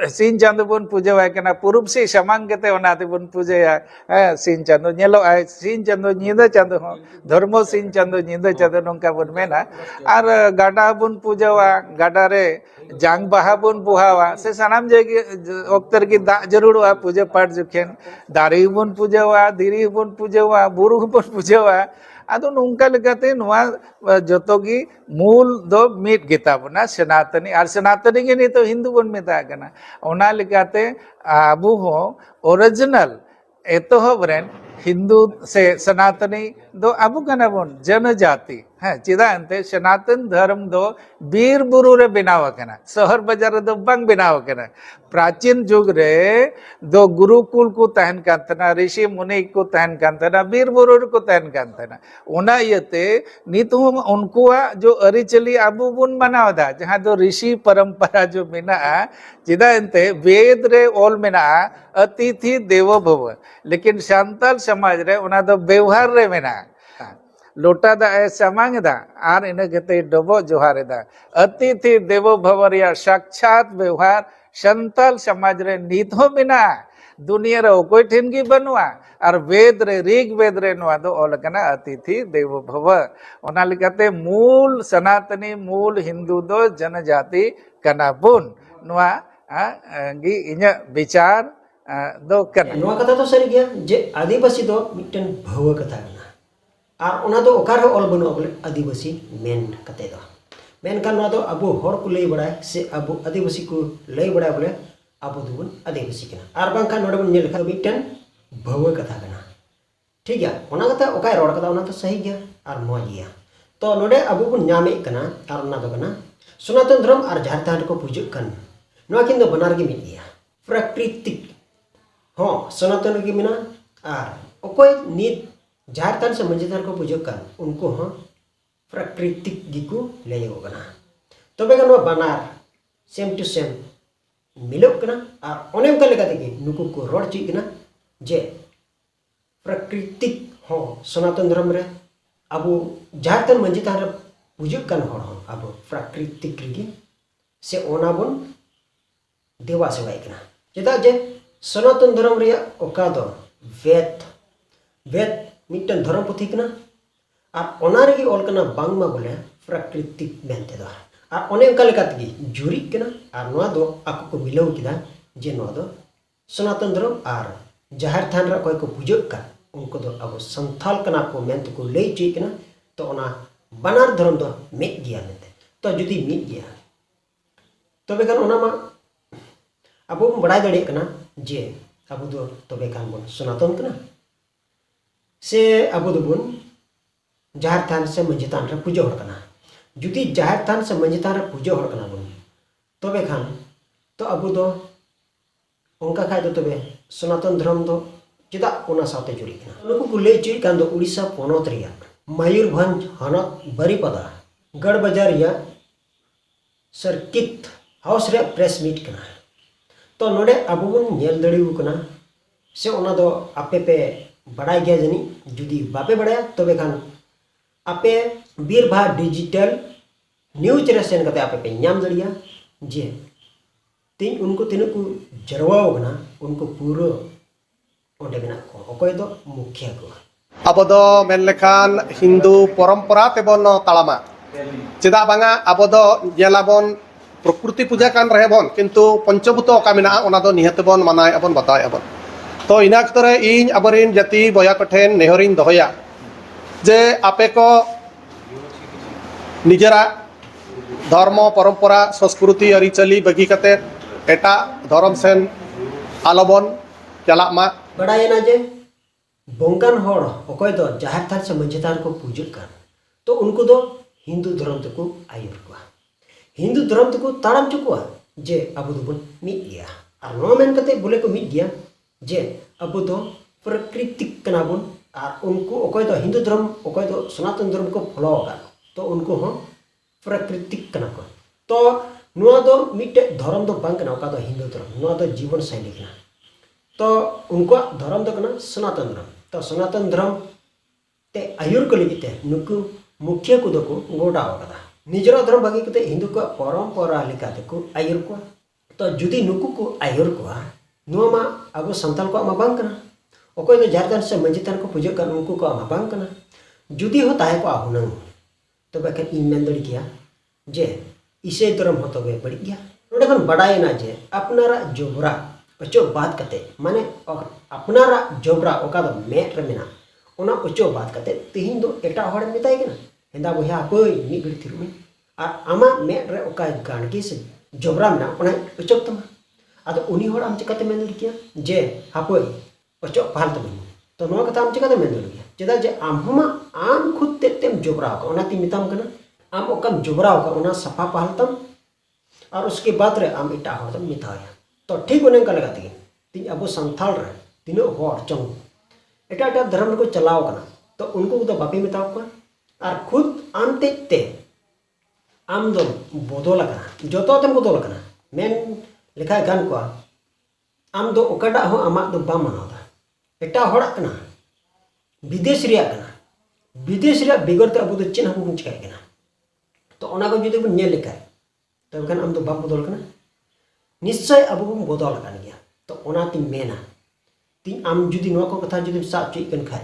ᱥᱤᱧ ᱪᱟᱸᱫᱚ ᱵᱚᱱ ᱯᱩᱡᱟᱹᱣᱟᱭ ᱠᱟᱱᱟ ᱯᱩᱨᱩᱵ ᱥᱮᱫ ᱥᱟᱢᱟᱝ ᱠᱟᱛᱮ ᱚᱱᱟ ᱛᱮᱵᱚᱱ ᱯᱩᱡᱟᱹᱭᱟ ᱦᱮᱸ ᱥᱤᱧ ᱪᱟᱸᱫᱚ ᱧᱮᱞᱚᱜ ᱟᱭ ᱥᱤᱧ ᱪᱟᱸᱫᱚ ᱧᱤᱫᱟᱹ ᱪᱟᱸᱫᱚ ᱦᱚᱸ ᱫᱷᱚᱨᱢᱚ ᱥᱤᱧ ᱪᱟᱸᱫᱚ ᱧᱤᱫᱟᱹ ᱪᱟᱸᱫᱚ ᱱᱚᱝᱠᱟ ᱵᱚᱱ ᱢᱮᱱᱟ ᱟᱨ ᱜᱟᱰᱟ ᱵᱚᱱ ᱯᱩᱡᱟᱹᱣᱟ ᱜᱟᱰᱟ ᱨᱮ ᱡᱟᱝ ᱵᱟᱦᱟ ᱵᱚᱱ ᱵᱚᱦᱟᱣᱟ ᱥᱮ ᱥᱟᱱᱟᱢ ᱡᱟᱭᱜᱟ ᱚᱠᱛᱚ ᱨᱮᱜᱮ ᱫᱟᱜ ᱡᱟᱹᱨᱩᱲᱚᱜᱼᱟ ᱯᱩᱡᱟᱹ ᱯᱟᱴ ᱡᱚᱠᱷᱮᱱ ᱫᱟᱨᱮ ᱦᱚᱸᱵᱚᱱ ᱯᱩᱡᱟᱹᱣᱟ ᱫᱷᱤᱨᱤ ᱦᱚᱸᱵᱚᱱ ᱯᱩᱡᱟᱹᱣᱟ ᱵᱩᱨᱩ ᱦᱚᱸᱵᱚᱱ ᱯᱩᱡᱟᱹᱣᱟ ᱟᱫᱚ ᱱᱚᱝᱠᱟ ᱞᱮᱠᱟᱛᱮ ᱱᱚᱣᱟ ᱡᱚᱛᱚ ᱜᱮ ᱢᱩᱞ ᱫᱚ ᱢᱤᱫ ᱜᱮᱛᱟ ᱵᱚᱱᱟ ᱥᱮᱱᱟᱛᱚᱱᱤ ᱟᱨ ᱥᱮᱱᱟᱛᱚᱱᱤ ᱜᱮ ᱱᱤᱛᱚᱜ ᱦᱤᱱᱫᱩ ᱵᱚᱱ ᱢᱮᱛᱟᱜ ᱠᱟᱱᱟ ᱚᱱᱟ ᱞᱮᱠᱟᱛᱮ ᱟᱵᱚ ᱦᱚᱸ ᱚᱨᱤᱡᱤᱱᱟᱞ ᱮᱛᱚᱦᱚᱵ ᱨᱮᱱ ᱦᱤᱱᱫᱩ ᱥᱮ ᱥᱮᱱᱟᱛᱚᱱᱤ ᱫᱚ ᱟᱵᱚ ᱠᱟᱱᱟ ᱵᱚᱱ ᱡᱚᱱᱚᱡᱟᱛᱤ ᱦᱮᱸ ᱪᱮᱫᱟᱜ ᱮᱱᱛᱮ ᱥᱮᱱᱟᱛᱚᱱ ᱫᱷᱚᱨᱚᱢ ᱫᱚ ᱵᱤᱨ ᱵᱩᱨᱩ ᱨᱮ ᱵᱮᱱᱟᱣ ᱟᱠᱟᱱᱟ ᱥᱚᱦᱚᱨ ᱵᱟᱡᱟᱨ ᱨᱮᱫᱚ ᱵᱟᱝ ᱵᱮᱱᱟᱣ ᱟᱠᱟᱱᱟ ᱯᱨᱟᱪᱤᱱ ᱡᱩᱜᱽ ᱨᱮ ᱫᱚ ᱜᱩᱨᱩᱠᱩᱞ ᱠᱚ ᱛᱟᱦᱮᱱ ᱠᱟᱱ ᱛᱟᱦᱮᱱᱟ ᱨᱤᱥᱤ ᱢᱩᱱᱤ ᱠᱚ ᱛᱟᱦᱮᱱ ᱠᱟᱱ ᱛᱟᱦᱮᱱᱟ ᱵᱤᱨ ᱵᱩᱨᱩ ᱨᱮᱠᱚ ᱛᱟᱦᱮᱱ ᱠᱟᱱ ᱛᱟᱦᱮᱱᱟ ᱚᱱᱟ ᱤᱭᱟᱹᱛᱮ ᱱᱤᱛ ᱦᱚᱸ ᱩᱱᱠᱩᱣᱟᱜ ᱡᱚ ᱟᱹᱨᱤᱪᱟᱹᱞᱤ ᱟᱵᱚ ᱵᱚᱱ ᱢᱟᱱᱟᱣ ᱮᱫᱟ ᱡᱟᱦᱟᱸ ᱫᱚ ᱨᱤᱥᱤ ᱯᱚᱨᱚᱢᱯᱚᱨᱟ ᱡᱚ ᱢᱮᱱᱟᱜᱼᱟ ᱪᱮᱫᱟᱜ ᱮᱱᱛᱮ ᱵᱮᱫ ᱨᱮ ᱚᱞ ᱢᱮᱱᱟᱜᱼᱟ ᱟᱛᱤᱛᱷᱤ ᱫᱮᱣᱚ ᱵᱷᱚᱵᱚ ᱞᱮᱠᱤᱱ ᱥᱟᱱᱛᱟᱞ ᱥᱚᱢᱟᱡᱽ ᱨᱮ ᱚᱱᱟ ᱫᱚ ᱵᱮᱣᱦᱟᱨ ᱨᱮ ᱢᱮᱱᱟᱜᱼᱟ ᱞᱚᱴᱟ ᱫᱟᱜ ᱮ ᱥᱟᱢᱟᱝ ᱮᱫᱟ ᱟᱨ ᱤᱱᱟᱹ ᱠᱟᱛᱮ ᱰᱚᱵᱚᱜ ᱡᱚᱦᱟᱨ ᱮᱫᱟ ᱟᱛᱤᱛᱷᱤ ᱫᱮᱵᱚ ᱵᱷᱟᱵᱟ ᱨᱮᱭᱟᱜ ᱥᱟᱠᱪᱷᱟᱛ ᱵᱮᱣᱦᱟᱨ ᱥᱟᱱᱛᱟᱞ ᱥᱚᱢᱟᱡᱽ ᱨᱮ ᱱᱤᱛ ᱦᱚᱸ ᱢᱮᱱᱟᱜᱼᱟ ᱫᱩᱱᱤᱭᱟᱹ ᱨᱮ ᱚᱠᱚᱭ ᱴᱷᱮᱱ ᱜᱮ ᱵᱟᱹᱱᱩᱜᱼᱟ ᱟᱨ ᱵᱮᱫ ᱨᱮ ᱨᱤᱜ ᱵᱮᱫ ᱨᱮ ᱱᱚᱣᱟ ᱫᱚ ᱚᱞ ᱟᱠᱟᱱᱟ ᱟᱛᱤᱛᱷᱤ ᱫᱮᱵᱚ ᱵᱷᱟᱵᱟ ᱚᱱᱟ ᱞᱮᱠᱟᱛᱮ ᱢᱩᱞ ᱥᱟᱱᱟᱛᱚᱱᱤ ᱢᱩᱞ ᱦᱤᱱᱫᱩ ᱫᱚ ᱡᱚᱱᱚᱡᱟᱛᱤ ᱠᱟᱱᱟ ᱵᱚᱱ ᱱᱚᱣᱟ ᱜᱮ ᱤᱧᱟᱹᱜ ᱵᱤᱪᱟᱨ ᱫᱚ ᱠᱟᱱᱟ ᱱᱚᱣᱟ ᱠᱟᱛᱷᱟ ᱫᱚ ᱥᱟᱹᱨᱤ ᱜᱮᱭᱟ ᱡᱮ ᱟᱹᱫᱤᱵᱟᱹᱥᱤ ᱫᱚ ᱢᱤᱫᱴᱮᱱ ᱵᱷᱟᱹᱣᱟᱹ ᱠᱟᱛᱷᱟ ᱠᱟᱱᱟ ᱟᱨ ᱚᱱᱟ ᱫᱚ ᱚᱠᱟ ᱨᱮᱦᱚᱸ ᱚᱞ ᱵᱟᱹᱱᱩᱜᱼᱟ ᱵᱚᱞᱮ ᱟᱹᱫᱤᱵᱟᱹᱥᱤ ᱢᱮᱱ ᱠᱟᱛᱮ ᱫᱚ ᱢᱮᱱᱠᱷᱟᱱ ᱱᱚᱣᱟ ᱫᱚ ᱟᱵᱚ ᱦᱚᱲ ᱠᱚ ᱞᱟᱹᱭ ᱵᱟᱲᱟᱭ ᱥᱮ ᱟᱵᱚ ᱟᱹᱫᱤᱵᱟᱹᱥᱤ ᱠᱚ ᱞᱟᱹᱭ ᱵᱟᱲᱟᱭ ᱵᱚᱞᱮ ᱟᱵᱚ ᱫᱚᱵᱚᱱ ᱟᱹᱫᱤᱵᱟᱹᱥᱤ ᱠᱟᱱᱟ ᱟᱨ ᱵᱟᱝᱠᱷᱟᱱ ᱱᱚᱰᱮ ᱵᱚᱱ ᱧᱮᱞ ᱞᱮᱠᱷᱟᱱ ᱢᱤᱫᱴᱮᱱ ᱵᱷᱟᱹᱣᱟᱹ ᱠᱟᱛᱷᱟ ᱠᱟᱱᱟ ᱴᱷᱤᱠ ᱜᱮᱭᱟ ᱚᱱᱟ ᱠᱟᱛᱷᱟ ᱚᱠᱟᱭ ᱨᱚᱲ ᱠᱟᱫᱟ ᱚᱱᱟ ᱫᱚ ᱥᱟᱹᱦᱤ ᱜᱮᱭᱟ ᱟᱨ ᱢᱚᱡᱽ ᱜᱮᱭᱟ ᱛᱚ ᱱᱚᱰᱮ ᱟᱵᱚ ᱵᱚᱱ ᱧᱟᱢᱮᱫ ᱠᱟᱱᱟ ᱟᱨ ᱚᱱᱟ ᱫᱚ ᱠᱟᱱᱟ ᱥᱚᱱᱟᱛᱚᱱ ᱫᱷᱚᱨᱚᱢ ᱟᱨ ᱡᱟᱦᱮᱨ ᱛᱷᱟᱱ ᱨᱮᱠᱚ ᱯᱩᱡᱟᱹᱜ ᱠᱟᱱ ᱱᱚᱣᱟ ᱠᱤᱱ ᱫᱚ ᱵᱟᱱᱟᱨ ᱜᱮ ᱢᱤᱫ ᱜᱮᱭᱟ ᱯᱨᱟᱠᱨᱤᱛᱤᱠ ᱦᱚᱸ ᱥᱚᱱᱟᱛᱚᱱ ᱨᱮᱜᱮ ᱢᱮᱱᱟᱜᱼᱟ ᱟᱨ ᱚᱠᱚᱭ ᱱᱤᱛ ᱡᱟᱦᱮᱨ ᱛᱷᱟᱱ ᱥᱮ ᱢᱟᱹᱡᱷᱤ ᱛᱷᱟᱱ ᱨᱮᱠᱚ ᱯᱩᱡᱟᱹᱜ ᱠᱟᱱ ᱩᱱᱠᱩ ᱦᱚᱸ ᱯᱨᱟᱠᱨᱤᱛᱤᱠ ᱜᱮᱠᱚ ᱞᱟᱹᱭᱚᱜᱚᱜ ᱠᱟᱱᱟ ᱛᱚᱵᱮ ᱜᱮ ᱱᱚᱣᱟ ᱵᱟᱱᱟᱨ ᱥᱮᱢ ᱴᱩ ᱥᱮᱢ ᱢᱤᱞᱟᱹᱜ ᱠᱟᱱᱟ ᱟᱨ ᱚᱱᱮ ᱚᱱᱠᱟ ᱞᱮᱠᱟ ᱛᱮᱜᱮ ᱱᱩᱠᱩ ᱠᱚ ᱨᱚᱲ ᱦᱚᱪᱚᱭᱮᱫ ᱠᱟᱱᱟ ᱡᱮ ᱯᱨᱟᱠᱨᱤᱛᱤᱠ ᱦᱚᱸ ᱥᱚᱱᱟᱛᱚᱱ ᱫᱷᱚᱨᱚᱢ ᱨᱮ ᱟᱵᱚ ᱡᱟᱦᱮᱨ ᱛᱷᱟᱱ ᱢᱟᱺᱡᱷᱤ ᱛᱷᱟᱱ ᱨᱮ ᱯᱩᱡᱟᱹᱜ ᱠᱟᱱ ᱦᱚᱲ ᱦᱚᱸ ᱟᱵᱚ ᱯᱨᱟᱠᱨᱤᱛᱤᱠ ᱨᱮᱜᱮ ᱥᱮ ᱚᱱᱟ ᱵᱚᱱ ᱫᱮᱵᱟ ᱥᱮᱵᱟᱭᱮ ᱠᱟᱱᱟ ᱪᱮᱫᱟᱜ ᱡᱮ ᱥᱚᱱᱟᱛᱚᱱ ᱫᱷᱚᱨᱚᱢ ᱨᱮᱭᱟᱜ ᱚᱠᱟ ᱫᱚ ᱵᱮᱫ ᱵᱮᱫ ᱢᱤᱫᱴᱮᱱ ᱫᱷᱚᱨᱚᱢ ᱯᱩᱛᱷᱤ ᱠᱟᱱᱟ ᱟᱨ ᱚᱱᱟ ᱨᱮᱜᱮ ᱚᱞ ᱠᱟᱱᱟ ᱵᱟᱝᱢᱟ ᱵᱚᱞᱮ ᱯᱨᱟᱠᱨᱤᱛᱤᱠ ᱢᱮᱱᱛᱮ ᱫᱚ ᱟᱨ ᱚᱱᱮ ᱚᱱᱠᱟ ᱞᱮᱠᱟ ᱛᱮᱜᱮ ᱡᱩᱨᱤᱜ ᱠᱟᱱᱟ ᱟᱨ ᱱᱚᱣᱟ ᱫᱚ ᱟᱠᱚ ᱠᱚ ᱢᱤᱞᱟᱹᱣ ᱠᱮᱫᱟ ᱡᱮ ᱱᱚᱣᱟ ᱫᱚ ᱥᱚᱱᱟᱛᱚᱱ ᱫᱷᱚᱨᱚᱢ ᱟᱨ ᱡᱟᱦᱮᱨ ᱛᱷᱟᱱ ᱨᱮ ᱚᱠᱚᱭ ᱠᱚ ᱯᱩᱡᱟᱹᱜ ᱠᱟᱱ ᱩᱱᱠᱩ ᱫᱚ ᱟᱵᱚ ᱥᱟᱱᱛᱷᱟᱞ ᱠᱟᱱᱟ ᱠᱚ ᱢᱮᱱᱛᱮ ᱠᱚ ᱞᱟᱹᱭ ᱦᱚᱪᱚᱭᱮᱫ ᱠᱟᱱᱟ ᱛᱚ ᱚᱱᱟ ᱵᱟᱱᱟᱨ ᱫᱷᱚᱨᱚᱢ ᱫᱚ ᱢᱤᱫ ᱜᱮᱭᱟ ᱢᱮᱱᱛᱮ ᱛᱚ ᱡᱩᱫᱤ ᱢᱤᱫ ᱜᱮᱭᱟ ᱛᱚᱵᱮ ᱠᱷᱟᱱ ᱚᱱᱟ ᱢᱟ ᱟᱵᱚ ᱵᱚᱱ ᱵᱟᱲᱟᱭ ᱫᱟᱲᱮᱭᱟᱜ ᱠᱟᱱᱟ ᱡᱮ ᱟᱵᱚ ᱫᱚ ᱛᱚᱵᱮ ᱠᱷᱟᱱ ᱵᱚᱱ ᱥᱚᱱᱟᱛᱚᱱ ᱠᱟᱱᱟ ᱥᱮ ᱟᱵᱚ ᱫᱚᱵᱚᱱ ᱡᱟᱦᱮᱨ ᱛᱷᱟᱱ ᱥᱮ ᱢᱟᱹᱡᱷᱤ ᱛᱷᱟᱱ ᱨᱮ ᱯᱩᱡᱟᱹ ᱦᱚᱲ ᱠᱟᱱᱟ ᱡᱩᱫᱤ ᱡᱟᱦᱮᱨ ᱛᱷᱟᱱ ᱥᱮ ᱢᱟᱹᱡᱷᱤ ᱛᱷᱟᱱ ᱨᱮ ᱯᱩᱡᱟᱹ ᱦᱚᱲ ᱠᱟᱱᱟ ᱵᱚᱱ ᱛᱚᱵᱮ ᱠᱷᱟᱱ ᱛᱚ ᱟᱵᱚ ᱫᱚ ᱚᱱᱠᱟ ᱠᱷᱟᱱ ᱫᱚ ᱛᱚᱵᱮ ᱥᱚᱱᱟᱛᱚᱱ ᱫᱷᱚᱨᱚᱢ ᱫᱚ ᱪᱮᱫᱟᱜ ᱚᱱᱟ ᱥᱟᱶᱛᱮ ᱡᱩᱨᱤᱜ ᱠᱟᱱᱟ ᱱᱩᱠᱩ ᱠᱚ ᱞᱟᱹᱭ ᱦᱚᱪᱚᱭᱮᱫ ᱠᱟᱱ ᱫᱚ ᱩᱲᱤᱥᱥᱟ ᱯᱚᱱᱚᱛ ᱨᱮᱭᱟᱜ ᱢᱟᱭᱩᱨᱵᱷᱚᱸᱡᱽ ᱦᱚᱱᱚᱛ ᱵᱟᱨᱤᱯᱟᱫᱟ ᱜᱟᱲ ᱵᱟᱡᱟᱨ ᱨᱮᱭᱟᱜ ᱥᱟᱨᱠᱤᱛ ᱦᱟᱣᱩᱥ ᱨᱮᱭᱟᱜ ᱯᱨᱮᱥ ᱢᱤᱴ ᱠᱟᱱᱟ ᱛᱚ ᱱᱚᱰᱮ ᱟᱵᱚ ᱵᱚᱱ ᱧᱮᱞ ᱫᱟᱲᱮᱣ ᱠᱟᱱᱟ ᱥᱮ ᱚᱱᱟ ᱫᱚ ᱟᱯᱮ ᱯᱮ ᱵᱟᱲᱟᱭ ᱜᱮᱭᱟ ᱡᱟᱹᱱᱤᱡ ᱡᱩᱫᱤ ᱵᱟᱯᱮ ᱵᱟᱲᱟᱭᱟ ᱛᱚᱵᱮ ᱠᱷᱟᱱ ᱟᱯᱮ ᱵᱤᱨᱵᱷᱟ ᱰᱤᱡᱤᱴᱟᱞ ᱱᱤᱭᱩᱡᱽ ᱨᱮ ᱥᱮᱱ ᱠᱟᱛᱮ ᱟᱯᱮ ᱯᱮ ᱧᱟᱢ ᱫᱟᱲᱮᱭᱟᱜᱼᱟ ᱡᱮ ᱛᱮᱦᱮᱧ ᱩᱱᱠᱩ ᱛᱤᱱᱟᱹᱜ ᱠᱚ ᱡᱟᱨᱣᱟᱣ ᱠᱟᱱᱟ ᱩᱱᱠᱩ ᱯᱩᱨᱟᱹ ᱚᱸᱰᱮ ᱢᱮᱱᱟᱜ ᱠᱚᱣᱟ ᱚᱠᱚᱭ ᱫᱚ ᱢᱩᱠᱷᱤᱭᱟᱹ ᱠᱚ ᱟᱵᱚ ᱫᱚ ᱢᱮᱱ ᱞᱮᱠᱷᱟᱱ ᱦᱤᱱᱫᱩ ᱯᱚᱨᱚᱢᱯᱚᱨᱟ ᱛᱮᱵᱚᱱ ᱛᱟᱲᱟᱢᱟ ᱪᱮᱫᱟᱜ ᱵᱟᱝᱟ ᱟᱵᱚ ᱫᱚ ᱧᱮᱞᱟᱵᱚᱱ ᱯᱨᱚᱠᱨᱤᱛᱤ ᱯᱩᱡᱟᱹ ᱠᱟᱱ ᱨᱮᱦᱮᱸ ᱵᱚᱱ ᱠᱤᱱᱛᱩ ᱯᱚᱧᱪᱚᱵᱷᱩᱛᱚ ᱚᱠᱟ ᱢᱮᱱᱟᱜᱼᱟ ᱚᱱᱟ ᱫᱚ ᱱᱤᱦᱟᱹᱛ ᱵᱚᱱ ᱢᱟᱱᱟᱣᱮᱫᱼᱟ ᱵᱚᱱ ᱵᱟᱛᱟᱣᱮᱫᱼᱟ ᱵᱚᱱ ᱛᱚ ᱤᱱᱟᱹ ᱚᱠᱛᱚ ᱨᱮ ᱤᱧ ᱟᱵᱚᱨᱮᱱ ᱡᱟᱹᱛᱤ ᱵᱚᱭᱦᱟ ᱠᱚᱴᱷᱮᱱ ᱱᱮᱦᱚᱨᱤᱧ ᱫᱚᱦᱚᱭᱟ ᱡᱮ ᱟᱯᱮ ᱠᱚ ᱱᱤᱡᱮᱨᱟᱜ ᱫᱷᱚᱨᱢᱚ ᱯᱚᱨᱚᱢᱯᱚᱨᱟ ᱥᱚᱥᱠᱨᱩᱛᱤ ᱟᱹᱨᱤᱪᱟᱹᱞᱤ ᱵᱟᱹᱜᱤ ᱠᱟᱛᱮ ᱮᱴᱟᱜ ᱫᱷᱚᱨᱚᱢ ᱥᱮᱱ ᱟᱞᱚᱵᱚᱱ ᱪᱟᱞᱟᱜ ᱢᱟ ᱵᱟᱰᱟᱭᱮᱱᱟ ᱡᱮ ᱵᱚᱝᱜᱟᱱ ᱦᱚᱲ ᱚᱠᱚᱭ ᱫᱚ ᱡᱟᱦᱮᱨ ᱛᱷᱟᱱ ᱥᱮ ᱢᱟᱹᱡᱷᱤ ᱛᱷᱟᱱ ᱠᱚ ᱯᱩᱡᱟᱹᱜ ᱠᱟᱱ ᱛᱚ ᱩᱱᱠᱩ ᱫᱚ ᱦᱤᱱᱫᱩ ᱫᱷᱚᱨᱚᱢ ᱛᱮᱠᱚ ᱟᱹᱭᱩᱨ ᱠᱚᱣᱟ ᱦᱤᱱᱫᱩ ᱫᱷᱚᱨᱚᱢ ᱛᱮᱠᱚ ᱛᱟᱲᱟᱢ ᱦᱚᱪᱚ ᱠᱚᱣᱟ ᱡᱮ ᱟᱵᱚ ᱫᱚᱵᱚᱱ ᱢᱤᱫ ᱜᱮᱭᱟ ᱟᱨ ᱱᱚᱣᱟ ᱢᱮᱱ ᱠᱟᱛᱮ ᱵᱚᱞᱮ ᱠᱚ ᱢᱤᱫ ᱜᱮᱭᱟ ᱡᱮ ᱟᱵᱚ ᱫᱚ ᱯᱨᱟᱠᱨᱤᱛᱤᱠ ᱠᱟᱱᱟ ᱵᱚᱱ ᱟᱨ ᱩᱱᱠᱩ ᱚᱠᱚᱭ ᱫᱚ ᱦᱤᱱᱫᱩ ᱫᱷᱚᱨᱚᱢ ᱚᱠᱚᱭ ᱫᱚ ᱥᱚᱱᱟᱛᱚᱱ ᱫᱷᱚᱨᱚᱢ ᱠᱚ ᱯᱷᱚᱞᱚ ᱟᱠᱟᱫ ᱠᱚ ᱛᱚ ᱩᱱᱠᱩ ᱦᱚᱸ ᱯᱨᱟᱠᱨᱤᱛᱤᱠ ᱠᱟᱱᱟ ᱠᱚ ᱛᱚ ᱱᱚᱣᱟ ᱫᱚ ᱢᱤᱫᱴᱮᱡ ᱫᱷᱚᱨᱚᱢ ᱫᱚ ᱵᱟᱝ ᱠᱟᱱᱟ ᱚᱠᱟ ᱫᱚ ᱦᱤᱱᱫᱩ ᱫᱷᱚᱨᱚᱢ ᱱᱚᱣᱟ ᱫᱚ ᱡᱤᱵᱚᱱ ᱥᱟᱭᱞᱤ ᱠᱟᱱᱟ ᱛᱚ ᱩᱱᱠᱩᱣᱟᱜ ᱫᱷᱚᱨᱚᱢ ᱫᱚ ᱠᱟᱱᱟ ᱥᱚᱱᱟᱛᱚᱱ ᱫᱷᱚᱨᱚᱢ ᱛᱚ ᱥᱚᱱᱟᱛᱚᱱ ᱫᱷᱚᱨᱚᱢ ᱛᱮ ᱟᱹᱭᱩᱨ ᱠᱚ ᱞᱟᱹᱜᱤᱫ ᱛᱮ ᱱᱩᱠᱩ ᱢᱩᱠᱷᱤᱭᱟᱹ ᱠᱚᱫᱚ ᱠᱚ ᱜᱚᱰᱟᱣ ᱟᱠᱟᱫᱟ ᱱᱤᱡᱮᱨᱟᱜ ᱫᱷᱚᱨᱚᱢ ᱵᱟᱹᱜᱤ ᱠᱟᱛᱮ ᱦᱤᱱᱫᱩ ᱠᱚᱣᱟᱜ ᱯᱚᱨᱚᱢᱯᱚᱨᱟ ᱞᱮᱠᱟ ᱛᱮᱠᱚ ᱟᱹᱭᱩᱨ ᱠᱚᱣᱟ ᱛᱚ ᱡᱩᱫᱤ ᱱᱩᱠᱩ ᱠᱚ ᱟᱭᱩᱨ ᱠᱚᱣᱟ ᱱᱚᱣᱟ ᱢᱟ ᱟᱵᱚ ᱥᱟᱱᱛᱟᱲ ᱠᱚᱣᱟᱜ ᱢᱟ ᱵᱟᱝ ᱠᱟᱱᱟ ᱚᱠᱚᱭ ᱫᱚ ᱡᱟᱦᱮᱨ ᱛᱷᱟᱱ ᱥᱮ ᱢᱟᱹᱡᱷᱤ ᱛᱷᱟᱱ ᱠᱚ ᱯᱩᱡᱟᱹᱜ ᱠᱟᱱ ᱩᱱᱠᱩ ᱠᱚᱣᱟᱜ ᱢᱟ ᱵᱟᱝ ᱠᱟᱱᱟ ᱡᱩᱫᱤ ᱦᱚᱸ ᱛᱟᱦᱮᱸ ᱠᱚᱜᱼᱟ ᱦᱩᱱᱟᱹᱝ ᱛᱚᱵᱮ ᱠᱷᱟᱱ ᱤᱧ ᱢᱮᱱ ᱫᱟᱲᱮ ᱠᱮᱭᱟ ᱡᱮ ᱤᱥᱟᱹᱭ ᱫᱷᱚᱨᱚᱢ ᱦᱚᱸ ᱛᱚᱵᱮ ᱵᱟᱹᱲᱤᱡ ᱜᱮᱭᱟ ᱱᱚᱰᱮ ᱠᱷᱚᱱ ᱵᱟᱰᱟᱭᱮᱱᱟ ᱡᱮ ᱟᱯᱱᱟᱨᱟᱜ ᱡᱚᱵᱽᱨᱟ ᱚᱪᱚᱜ ᱵᱟᱫ ᱠᱟᱛᱮ ᱢᱟᱱᱮ ᱟᱯᱱᱟᱨᱟᱜ ᱡᱚᱵᱽᱨᱟ ᱚᱠᱟ ᱫᱚ ᱢᱮᱫ ᱨᱮ ᱢᱮᱱᱟᱜ ᱚᱱᱟ ᱚᱪᱚᱜ ᱵᱟᱫ ᱠᱟᱛᱮ ᱛᱮᱦᱮᱧ ᱫᱚ ᱮᱴᱟᱜ ᱦᱚᱲᱮᱢ ᱢᱮᱛᱟᱭ ᱠᱟᱱᱟ ᱦᱮᱸᱫᱟ ᱵᱚᱭᱦᱟ ᱦᱟᱯᱟᱹᱭ ᱢᱤᱫ ᱜᱷᱟᱹᱲᱤᱡ ᱛᱷᱤᱨᱚᱜ ᱢᱮ ᱟᱨ ᱟᱢᱟᱜ ᱢᱮᱫ ᱨᱮ ᱚᱠᱟ ᱜᱟᱸᱰᱜᱮ ᱥᱮ ᱡᱚᱵᱽᱨᱟ ᱢᱮᱱᱟᱜᱼᱟ ᱚᱱᱟᱭ ᱚᱪᱚᱜ ᱛᱟᱢᱟ ᱟᱫᱚ ᱩᱱᱤ ᱦᱚᱲ ᱟᱢ ᱪᱤᱠᱟᱹᱛᱮᱢ ᱢᱮᱱ ᱫᱟᱲᱮ ᱠᱮᱭᱟ ᱡᱮ ᱦᱟᱯᱳᱭ ᱚᱪᱚᱜ ᱯᱟᱦᱟᱞ ᱛᱟᱹᱢᱟᱹᱧ ᱛᱚ ᱱᱚᱣᱟ ᱠᱟᱛᱷᱟ ᱟᱢ ᱪᱤᱠᱟᱹᱛᱮᱢ ᱢᱮᱱ ᱫᱟᱲᱮ ᱠᱮᱭᱟ ᱪᱮᱫᱟᱜ ᱡᱮ ᱟᱢ ᱦᱚᱸ ᱢᱟ ᱟᱢ ᱠᱷᱩᱫ ᱛᱮᱫ ᱛᱮᱢ ᱡᱚᱵᱽᱨᱟ ᱟᱠᱟᱫ ᱚᱱᱟᱛᱤᱧ ᱢᱮᱛᱟᱢ ᱠᱟᱱᱟ ᱟᱢ ᱚᱠᱟᱢ ᱡᱚᱵᱽᱨᱟ ᱟᱠᱟᱫ ᱚᱱᱟ ᱥᱟᱯᱷᱟ ᱯᱟᱦᱟᱞ ᱛᱟᱢ ᱟᱨ ᱩᱥᱠᱮ ᱵᱟᱫᱽ ᱨᱮ ᱟᱢ ᱮᱴᱟᱜ ᱦᱚᱲ ᱫᱚᱢ ᱢᱮᱛᱟᱣᱟᱭᱟ ᱛᱚ ᱴᱷᱤᱠ ᱚᱱᱮ ᱚᱱᱠᱟ ᱞᱮᱠᱟ ᱛᱮᱜᱮ ᱛᱤᱦᱤᱧ ᱟᱵᱚ ᱥᱟᱱᱛᱟᱲ ᱨᱮ ᱛᱤᱱᱟᱹᱜ ᱦᱚᱲ ᱪᱚᱝ ᱮᱴᱟᱜ ᱮᱴᱟᱜ ᱫᱷᱚᱨᱚᱢ ᱨᱮᱠᱚ ᱪᱟᱞᱟᱣ ᱠᱟᱱᱟ ᱛᱚ ᱩᱱᱠᱩ ᱠᱚᱫᱚ ᱵᱟᱯᱮ ᱢᱮᱛᱟᱣ ᱠᱚᱣᱟ ᱟᱨ ᱠᱷᱩᱫ ᱟᱢ ᱛᱮᱡ ᱛᱮ ᱟᱢ ᱫᱚ ᱵᱚᱫᱚᱞ ᱟᱠᱟᱱᱟ ᱡᱚᱛᱚ ᱛᱮᱢ ᱵᱚᱫᱚᱞ ᱟᱠᱟᱱᱟ ᱢᱮᱱ ᱞᱮᱠᱷᱟᱱ ᱜᱟᱱ ᱠᱚᱜᱼᱟ ᱟᱢ ᱫᱚ ᱚᱠᱟᱴᱟᱜ ᱦᱚᱸ ᱟᱢᱟᱜ ᱫᱚ ᱵᱟᱢ ᱢᱟᱱᱟᱣ ᱮᱫᱟ ᱮᱴᱟᱜ ᱦᱚᱲᱟᱜ ᱠᱟᱱᱟ ᱵᱤᱫᱮᱥ ᱨᱮᱭᱟᱜ ᱠᱟᱱᱟ ᱵᱤᱫᱮᱥ ᱨᱮᱭᱟᱜ ᱵᱮᱜᱚᱨ ᱛᱮ ᱟᱵᱚ ᱫᱚ ᱪᱮᱫ ᱦᱚᱸ ᱵᱟᱵᱚᱱ ᱪᱮᱠᱟᱭᱮᱫ ᱠᱟᱱᱟ ᱛᱚ ᱚᱱᱟ ᱠᱚ ᱡᱩᱫᱤ ᱵᱚᱱ ᱧᱮᱞ ᱞᱮᱠᱷᱟᱱ ᱛᱚᱵᱮ ᱠᱷᱟᱱ ᱟᱢ ᱫᱚ ᱵᱟᱢ ᱵᱚᱫᱚᱞ ᱠᱟᱱᱟ ᱱᱤᱥᱪᱚᱭ ᱟᱵᱚ ᱵᱚᱱ ᱵᱚᱫᱚᱞ ᱟᱠᱟᱱ ᱜᱮᱭᱟ ᱛᱚ ᱚᱱᱟᱛᱤᱧ ᱢᱮᱱᱟ ᱛᱤᱦᱤᱧ ᱟᱢ ᱡᱩᱫᱤ ᱱᱚᱣᱟ ᱠᱚ ᱠᱟᱛᱷᱟ ᱡᱩᱫᱤᱢ ᱥᱟᱵ ᱦᱚᱪᱚᱭᱮᱫ ᱠᱟᱱ ᱠᱷᱟᱱ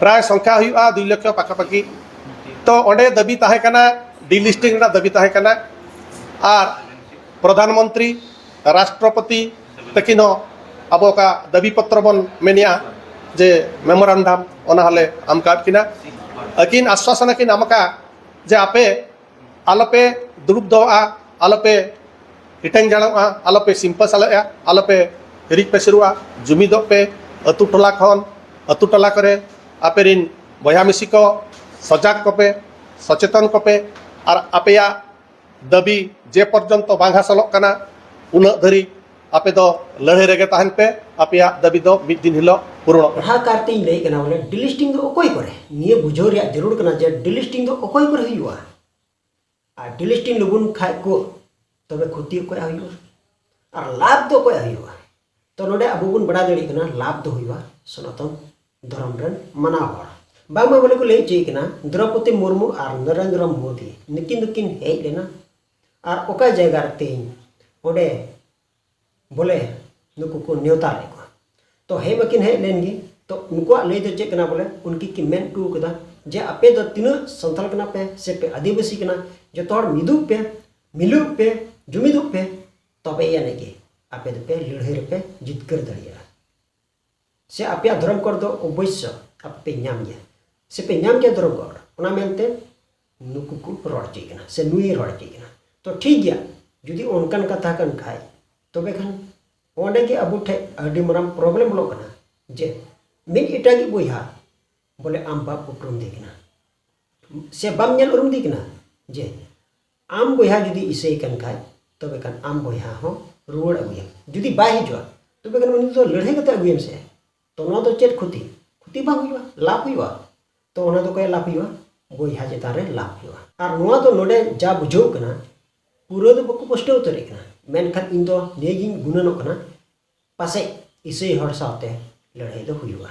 ᱯᱨᱟᱭ ᱥᱚᱝᱠᱷᱟ ᱦᱩᱭᱩᱜᱼᱟ ᱫᱩᱭ ᱞᱚᱠᱷᱚ ᱯᱟᱠᱷᱟ ᱯᱟᱠᱷᱤ ᱛᱚ ᱚᱸᱰᱮ ᱫᱟᱹᱵᱤ ᱛᱟᱦᱮᱸ ᱠᱟᱱᱟ ᱰᱤᱞᱤᱥᱴᱤᱝ ᱨᱮᱱᱟᱜ ᱫᱟᱹᱵᱤ ᱛᱟᱦᱮᱸ ᱠᱟᱱᱟ ᱟᱨ ᱯᱨᱚᱫᱷᱟᱱ ᱢᱚᱱᱛᱨᱤ ᱨᱟᱥᱴᱨᱚᱯᱚᱛᱤ ᱛᱟᱹᱠᱤᱱ ᱦᱚᱸ ᱟᱵᱚ ᱚᱠᱟ ᱫᱟᱹᱵᱤ ᱯᱚᱛᱨᱚ ᱵᱚᱱ ᱢᱮᱱᱮᱜᱼᱟ ᱡᱮ ᱢᱮᱢᱳᱨᱟᱱᱰᱟᱢ ᱚᱱᱟ ᱦᱚᱸᱞᱮ ᱮᱢ ᱠᱟᱫ ᱠᱤᱱᱟ ᱟᱹᱠᱤᱱ ᱟᱥᱥᱟᱥᱚᱱ ᱠᱤᱱ ᱮᱢ ᱠᱟᱜᱼᱟ ᱡᱮ ᱟᱯᱮ ᱟᱞᱚᱯᱮ ᱫᱩᱲᱩᱵ ᱫᱚᱦᱚᱜᱼᱟ ᱟᱞᱚᱯᱮ ᱦᱤᱴᱟᱹᱝ ᱡᱟᱲᱚᱜᱼᱟ ᱟᱞᱚᱯᱮ ᱥᱤᱢᱯᱟᱹ ᱥᱟᱞᱮᱜᱼᱟ ᱟᱞᱚᱯᱮ ᱦᱤᱨᱤᱡ ᱯᱟᱹᱥᱤᱨᱚᱜᱼᱟ ᱡᱩᱢᱤᱫᱚᱜ ᱯᱮ ᱟᱹᱛᱩ ᱴᱚᱞᱟ ᱠᱷᱚᱱ ᱟᱹᱛᱩ ᱴᱚᱞᱟ ᱠᱚᱨᱮ ᱟᱯᱮ ᱨᱤᱱ ᱵᱚᱭᱦᱟ ᱢᱤᱥᱤ ᱠᱚ ᱥᱚᱡᱟᱜᱽ ᱠᱚᱯᱮ ᱥᱚᱪᱮᱛᱚᱱ ᱠᱚᱯᱮ ᱟᱨ ᱟᱯᱮᱭᱟᱜ ᱫᱟᱹᱵᱤ ᱡᱮ ᱯᱚᱨᱡᱚᱱᱛᱚ ᱵᱟᱝ ᱦᱟᱥᱚᱞᱚᱜ ᱠᱟᱱᱟ ᱩᱱᱟᱹᱜ ᱫᱷᱟᱹᱨᱤᱡ ᱟᱯᱮ ᱫᱚ ᱞᱟᱹᱲᱦᱟᱹᱭ ᱨᱮᱜᱮ ᱛᱟᱦᱮᱱ ᱯᱮ ᱟᱯᱮᱭᱟᱜ ᱫᱟᱹᱵᱤ ᱫᱚ ᱢᱤᱫ ᱫᱤᱱ ᱦᱤᱞᱳᱜ ᱯᱩᱨᱚᱱᱚᱜ ᱯᱟᱲᱦᱟᱣ ᱠᱟᱨᱛᱮ ᱤᱧ ᱞᱟᱹᱭ ᱠᱟᱱᱟ ᱵᱚᱞᱮ ᱰᱤᱞᱤᱥᱴᱤᱝ ᱫᱚ ᱚᱠᱚᱭ ᱠᱚᱨᱮ ᱱᱤᱭᱟᱹ ᱵᱩᱡᱷᱟᱹᱣ ᱨᱮᱭᱟᱜ ᱡᱟᱹᱨᱩᱲ ᱠᱟᱱᱟ ᱡᱮ ᱰᱤᱞᱤᱥᱴᱤᱝ ᱫᱚ ᱚᱠᱚᱭ ᱠᱚᱨᱮ ᱦᱩᱭᱩᱜᱼᱟ ᱟᱨ ᱰᱤᱞᱤᱥᱴᱤᱝ ᱞᱩᱵᱩᱱ ᱠᱷᱟᱡ ᱠᱚ ᱛᱚᱵᱮ ᱠᱷᱚᱛᱤ ᱚᱠᱚᱭ ᱦᱩᱭᱩᱜᱼᱟ ᱟᱨ ᱞᱟᱵᱷ ᱫᱚ ᱚᱠᱚᱭ ᱦᱩᱭᱩᱜᱼᱟ ᱛᱚ ᱱᱚᱰᱮ ᱟᱵᱚ ᱵᱚᱱ ᱵᱟᱲᱟᱭ ᱫᱟᱲᱮᱭᱟᱜ ᱠᱟᱱᱟ ᱞᱟᱵᱷ ᱫᱚ ᱦᱩᱭᱩᱜᱼᱟ ᱥᱚᱱᱟᱛᱚᱱ ᱫᱷᱚᱨᱚᱢ ᱨᱮᱱ ᱢᱟᱱᱟᱣ ᱦᱚᱲ ᱵᱟᱝᱢᱟ ᱵᱚᱞᱮ ᱠᱚ ᱞᱟᱹᱭ ᱦᱚᱪᱚᱭᱮ ᱠᱟᱱᱟ ᱫᱨᱚᱯᱚᱫᱤ ᱢᱩᱨᱢᱩ ᱟᱨ ᱱᱚᱨᱮᱱᱫᱨᱚ ᱢᱳᱫᱤ ᱱᱩᱠᱤᱱ ᱫᱚᱠᱤᱱ ᱦᱮᱡ ᱞᱮᱱᱟ ᱟᱨ ᱚᱠᱟ ᱡᱟᱭᱜᱟ ᱨᱮ ᱛᱮᱦᱮᱧ ᱚᱸᱰᱮ ᱵᱚᱞᱮ ᱱᱩᱠᱩ ᱠᱚ ᱱᱮᱣᱛᱟ ᱞᱮᱫ ᱠᱚᱣᱟ ᱛᱚ ᱦᱮᱡ ᱢᱟᱠᱤᱱ ᱦᱮᱡ ᱞᱮᱱ ᱜᱮ ᱛᱚ ᱩᱱᱠᱩᱣᱟᱜ ᱞᱟᱹᱭ ᱫᱚ ᱪᱮᱫ ᱠᱟᱱᱟ ᱵᱚᱞᱮ ᱩᱱᱠᱤᱱ ᱠᱤᱱ ᱢᱮᱱ ᱦᱚᱴᱚ ᱠᱟᱫᱟ ᱡᱮ ᱟᱯᱮ ᱫᱚ ᱛᱤᱱᱟᱹᱜ ᱥᱟᱱᱛᱟᱲ ᱠᱟᱱᱟ ᱯᱮ ᱥᱮ ᱯᱮ ᱟᱹᱫᱤᱵᱟᱹᱥᱤ ᱠᱟᱱᱟ ᱡᱚᱛᱚ ᱦᱚᱲ ᱢᱤᱫᱚᱜ ᱯᱮ ᱢᱤᱞᱚᱜ ᱯᱮ ᱡᱩᱢᱤᱫᱚᱜ ᱯᱮ ᱛᱚᱵᱮ ᱟᱹᱱᱤᱡ ᱜᱮ ᱟᱯᱮ ᱫᱚᱯᱮ ᱞᱟᱹᱲᱦᱟᱹᱭ ᱨᱮᱯᱮ ᱡᱤᱛᱠᱟᱹᱨ ᱫᱟᱲᱮᱭᱟᱜᱼᱟ ᱥᱮ ᱟᱯᱮᱭᱟᱜ ᱫᱷᱚᱨᱚᱢ ᱠᱚᱨ ᱫᱚ ᱚᱵᱚᱥᱥᱚ ᱟᱯᱮ ᱯᱮ ᱧᱟᱢ ᱜᱮᱭᱟ ᱥᱮ ᱯᱮ ᱧᱟᱢ ᱜᱮᱭᱟ ᱫᱷᱚᱨᱚᱢ ᱠᱚᱨ ᱚᱱᱟ ᱢᱮᱱᱛᱮ ᱱᱩᱠᱩ ᱠᱚ ᱨᱚᱲ ᱦᱚᱪᱚᱭ ᱠᱟᱱᱟ ᱥᱮ ᱱᱩᱭ ᱨᱚᱲ ᱦᱚᱪᱚᱭ ᱠᱟᱱᱟ ᱛᱚ ᱴᱷᱤᱠ ᱜᱮᱭᱟ ᱡᱩᱫᱤ ᱚᱱᱠᱟᱱ ᱠᱟᱛᱷᱟ ᱠᱟᱱ ᱠᱷᱟᱡ ᱛᱚᱵᱮ ᱠᱷᱟᱱ ᱚᱸᱰᱮ ᱜᱮ ᱟᱵᱚ ᱴᱷᱮᱡ ᱟᱹᱰᱤ ᱢᱟᱨᱟᱝ ᱯᱨᱚᱵᱞᱮᱢ ᱵᱚᱞᱚᱜ ᱠᱟᱱᱟ ᱡᱮ ᱢᱤᱫ ᱮᱴᱟᱜᱤᱡ ᱵᱚᱭᱦᱟ ᱵᱚᱞᱮ ᱟᱢ ᱵᱟᱢ ᱩᱯᱨᱩᱢ ᱫᱮ ᱠᱟᱱᱟ ᱥᱮ ᱵᱟᱢ ᱧᱮᱞ ᱩᱨᱩᱢ ᱫᱮ ᱠᱟᱱᱟ ᱡᱮ ᱟᱢ ᱵᱚᱭᱦᱟ ᱡᱩᱫᱤ ᱤᱥᱟᱹᱭ ᱠᱟᱱ ᱠᱷᱟᱡ ᱛᱚᱵᱮ ᱠᱷᱟᱱ ᱟᱢ ᱵᱚᱭᱦᱟ ᱦᱚᱸ ᱨᱩᱣᱟᱹᱲ ᱟᱹᱜᱩᱭᱮᱢ ᱡᱩᱫᱤ ᱵᱟᱭ ᱦᱤᱡᱩᱜᱼᱟ ᱛᱚᱵᱮ ᱠᱷᱟᱱ ᱩᱱᱤ ᱫᱚ ᱞᱟᱹᱲᱦᱟᱹᱭ ᱠᱟᱛᱮ ᱟᱹᱜᱩᱭᱮᱢ ᱥᱮ ᱛᱚ ᱱᱚᱣᱟ ᱫᱚ ᱪᱮᱫ ᱠᱷᱚᱛᱤ ᱠᱷᱚᱛᱤ ᱵᱟᱝ ᱦᱩᱭᱩᱜᱼᱟ ᱞᱟᱵᱷ ᱦᱩᱭᱩᱜᱼᱟ ᱛᱚ ᱚᱱᱟ ᱫᱚ ᱚᱠᱚᱭᱟᱜ ᱞᱟᱵᱷ ᱦᱩᱭᱩᱜᱼᱟ ᱵᱚᱭᱦᱟ ᱪᱮᱛᱟᱱ ᱨᱮ ᱞᱟᱵᱷ ᱦᱩᱭᱩᱜᱼᱟ ᱟᱨ ᱱᱚᱣᱟ ᱫᱚ ᱱᱚᱰᱮ ᱡᱟ ᱵᱩᱡᱷᱟᱹᱣ ᱠᱟᱱᱟ ᱯᱩᱨᱟᱹ ᱫᱚ ᱵᱟᱠᱚ ᱯᱩᱥᱴᱟᱹᱣ ᱩᱛᱟᱹᱨᱮᱫ ᱠᱟᱱᱟ ᱢᱮᱱᱠᱷᱟᱱ ᱤᱧ ᱫᱚ ᱱᱤᱭᱟᱹᱜᱤᱧ ᱜᱩᱱᱟᱹᱱᱚᱜ ᱠᱟᱱᱟ ᱯᱟᱥᱮᱡ ᱤᱥᱟᱹᱭ ᱦᱚᱲ ᱥᱟᱶᱛᱮ ᱞᱟᱹᱲᱦᱟᱹᱭ ᱫᱚ ᱦᱩᱭᱩᱜᱼᱟ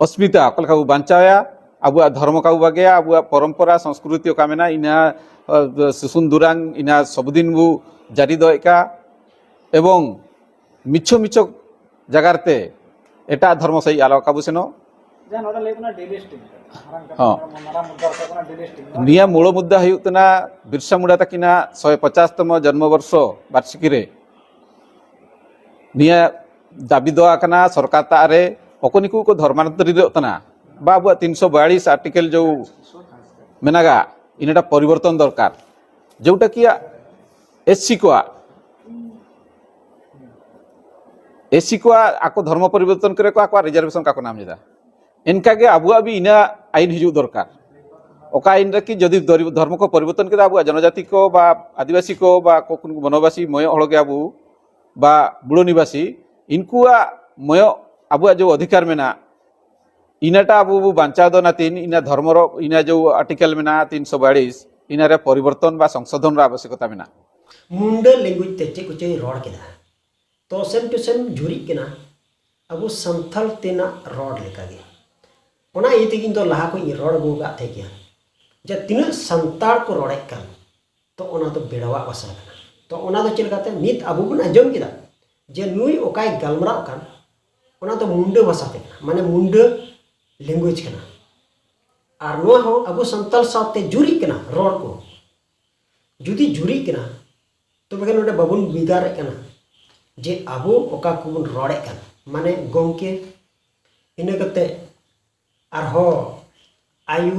ᱚᱥᱢᱤᱛᱟ ᱚᱠᱟ ᱞᱮᱠᱟ ᱵᱚ ᱵᱟᱧᱪᱟᱣᱮᱭᱟ ᱟᱵᱚᱣᱟᱜ ᱫᱷᱚᱨᱢᱚ ᱚᱠᱟ ᱵᱚ ᱵᱟᱜᱮᱭᱟ ᱟᱵᱚᱣᱟᱜ ᱯᱚᱨᱚᱢᱯᱚᱨᱟ ᱥᱚᱝᱥᱠᱨᱩᱛᱤ ᱚᱠᱟ ᱢᱮᱱᱟᱜᱼᱟ ᱤᱱᱟᱹ ᱥᱩᱥᱩᱱ ᱫᱩᱨᱟᱝ ᱤᱱᱟᱹ ᱥᱚᱵᱫᱤᱱ ᱵᱚ ᱡᱟᱹᱨᱤ ᱫᱚᱦᱚᱭᱮᱫ ᱠᱟᱱ ᱮᱵᱚᱝ ᱢᱤᱪᱷᱚ ᱢᱤᱪᱷᱚ ᱡᱟᱭᱜᱟ ᱨᱮᱛᱮ ᱮᱴᱟᱜ ᱫᱷᱚᱨᱢᱚ ᱥᱟᱹᱦᱤᱡ ᱟᱞᱚ ᱚᱠᱟ ᱵᱚ ᱥᱮᱱᱚᱜ ᱡᱟᱦᱟᱸ ᱱᱚᱰᱮ ᱞᱟᱹᱭ ᱠᱟᱱᱟ ᱰᱮᱞᱤ ᱥᱴᱤᱝ ᱱᱤᱭᱟᱹ ᱢᱩᱲ ᱢᱩᱫᱽᱫᱟ ᱦᱩᱭᱩᱜ ᱠᱟᱱᱟ ᱵᱤᱨᱥᱟ ᱢᱩᱱᱰᱟ ᱛᱟᱹᱠᱤᱱᱟᱜ ᱥᱚᱭ ᱯᱚᱪᱟᱥ ᱛᱚᱢᱚ ᱡᱚᱱᱢᱚ ᱵᱚᱨᱥᱚ ᱵᱟᱨᱥᱤᱠᱤ ᱨᱮ ᱱᱤᱭᱟᱹ ᱫᱟᱹᱵᱤ ᱫᱚ ᱠᱟᱱᱟ ᱥᱚᱨᱠᱟᱨ ᱛᱟᱜ ᱨᱮ ᱚᱠᱚᱭ ᱱᱤᱠᱩ ᱠᱚ ᱫᱷᱚᱨᱢᱟᱱᱛᱚᱨᱤᱛᱚᱜ ᱠᱟᱱᱟ ᱵᱟ ᱟᱵᱚᱣᱟᱜ ᱛᱤᱱᱥᱚ ᱵᱟᱭᱟᱞᱤᱥ ᱟᱨᱴᱤᱠᱮᱞ ᱡᱚ ᱢᱮᱱᱟᱜᱟ ᱤᱱᱟᱹᱴᱟ ᱯᱚᱨᱤᱵᱚᱨᱛᱚᱱ ᱫᱚᱨᱠᱟᱨ ᱡᱮᱴᱟ ᱠᱤ ᱮᱥᱥᱤ ᱠᱚᱣᱟᱜ ᱮᱥᱥᱤ ᱠᱚᱣᱟᱜ ᱟᱠᱚ ᱫᱷᱚᱨᱢᱚ ᱯᱚᱨᱤᱵᱚᱨᱛᱚᱱ ᱠᱚᱨᱮ ᱠᱚ ᱟᱠᱚᱣᱟᱜ ᱨᱤᱡᱟᱨᱵᱷᱮᱥᱚᱱ ᱠᱟᱠᱚ ᱱᱟᱢ ᱮᱫᱟ ᱤᱱᱠᱟᱹᱜᱮ ᱟᱵᱚᱣᱟᱜ ᱵᱤ ᱤᱱᱟᱹ ᱟᱭᱤᱱ ᱦᱤᱡᱩᱜ ᱫᱚᱨᱠᱟᱨ ᱚᱠᱟ ᱟᱭᱤᱱ ᱨᱮ ᱠᱤ ᱡᱩᱫᱤ ᱫᱷᱚᱨᱢᱚ ᱠᱚ ᱯᱚᱨᱤᱵᱚᱨᱛᱚᱱ ᱠᱮᱫᱟ ᱟᱵᱚᱣᱟᱜ ᱡᱚᱱᱚᱡᱟᱛᱤ ᱠᱚ ᱵᱟ ᱟᱹᱫᱤᱵᱟᱹᱥᱤ ᱠᱚ ᱵᱟ ᱵᱚᱱᱚᱵᱟᱥᱤ ᱢᱚᱭᱚᱜ ᱦᱚᱲ ᱜᱮ ᱟᱵᱚ ᱵᱟ ᱵᱩᱲᱟᱹ ᱱᱤᱵᱟᱥᱤ ᱤᱱᱠᱩᱣᱟᱜ ᱢᱚᱭᱚᱜ ᱟᱵᱚᱣᱟᱜ ᱡᱮ ᱚᱫᱷᱤᱠᱟᱨ ᱢᱮᱱᱟᱜ ᱤᱱᱟᱹᱴᱟ ᱟᱵᱚ ᱵᱚ ᱵᱟᱧᱪᱟᱣ ᱫᱚ ᱚᱱᱟ ᱛᱤᱱ ᱤᱱᱟᱹ ᱫᱷᱚᱨᱢᱚ ᱨᱚ ᱤᱱᱟᱹ ᱡᱮ ᱟᱨᱴᱤᱠᱮᱞ ᱢᱮᱱᱟᱜ ᱛᱤᱱ ᱥᱚ ᱵᱟᱲᱤᱥ ᱤᱱᱟᱹᱨᱮ ᱯᱚᱨᱤᱵᱚᱨᱛᱚᱱ ᱵᱟ ᱥᱚᱝᱥᱳᱫᱷᱚᱱ ᱨᱮ ᱟᱵᱚᱥᱭᱚᱠᱚᱛᱟ ᱢᱮᱱᱟᱜ ᱢᱩᱱᱰᱟᱹ ᱞᱮᱝᱜᱩᱭᱮᱡᱽ ᱛᱮ ᱪᱮᱫ ᱠᱚᱪᱚᱧ ᱨᱚᱲ ᱠᱮᱫᱟ ᱛᱚ ᱥᱮᱢ ᱴᱩ ᱥᱮᱢ ᱡᱩᱨᱤᱜ ᱠᱟᱱᱟ ᱟᱵᱚ ᱥᱟᱱᱛᱟᱲ ᱛᱮᱱᱟᱜ ᱨᱚᱲ ᱞᱮᱠᱟᱜᱮ ᱚᱱᱟ ᱤᱭᱟᱹ ᱛᱮᱜᱮ ᱤᱧ ᱫᱚ ᱞᱟᱦᱟ ᱠᱷᱚᱱ ᱤᱧ ᱨᱚᱲ ᱟᱹᱜᱩ ᱟᱠᱟᱫ ᱛᱟᱦᱮᱸ ᱜᱮᱭᱟ ᱡᱮ ᱛᱤᱱᱟᱹᱜ ᱥᱟᱱᱛᱟᱲ ᱠᱚ ᱨᱚᱲᱮᱫ ᱠᱟᱱ ᱛᱚ ᱚᱱᱟ ᱫᱚ ᱵᱮᱲᱟᱣᱟᱜ ᱵᱷᱟᱥᱟ ᱠᱟᱱᱟ ᱛᱚ ᱚᱱᱟ ᱫᱚ ᱪᱮᱫ ᱞᱮᱠᱟᱛᱮ ᱱᱤᱛ ᱟᱵᱚ ᱵᱚᱱ ᱟᱸᱡᱚᱢ ᱠᱮᱫᱟ ᱡᱮ ᱱᱩᱭ ᱚᱠᱟᱭ ᱜᱟᱞᱢᱟᱨᱟᱜ ᱠᱟᱱ ᱚᱱᱟ ᱫᱚ ᱢᱩᱱᱰᱟᱹ ᱵᱷᱟᱥᱟ ᱛᱮ ᱠᱟᱱᱟ ᱢᱟᱱᱮ ᱢᱩᱱᱰᱟᱹ ᱞᱮᱝᱜᱩᱭᱮᱡᱽ ᱠᱟᱱᱟ ᱟᱨ ᱱᱚᱣᱟ ᱦᱚᱸ ᱟᱵᱚ ᱥᱟᱱᱛᱟᱲ ᱥᱟᱶᱛᱮ ᱡᱩᱨᱤᱜ ᱠᱟᱱᱟ ᱨᱚᱲ ᱠᱚ ᱡᱩᱫᱤ ᱡᱩᱨᱤᱜ ᱠᱟᱱᱟ ᱛᱚᱵᱮ ᱠᱷᱟᱱ ᱱᱚᱰᱮ ᱵᱟᱵᱚᱱ ᱵᱩᱡᱽ ᱫᱟᱲᱮᱜ ᱠᱟᱱᱟ ᱡᱮ ᱟᱵᱚ ᱚᱠᱟ ᱠᱚᱵᱚᱱ ᱨᱚᱲᱮᱫ ᱠᱟᱱᱟ ᱢᱟᱱᱮ ᱜᱚᱢᱠᱮ ᱤᱱᱟᱹ ᱠᱟᱛᱮ ᱟᱨᱦᱚᱸ ᱟᱭᱳ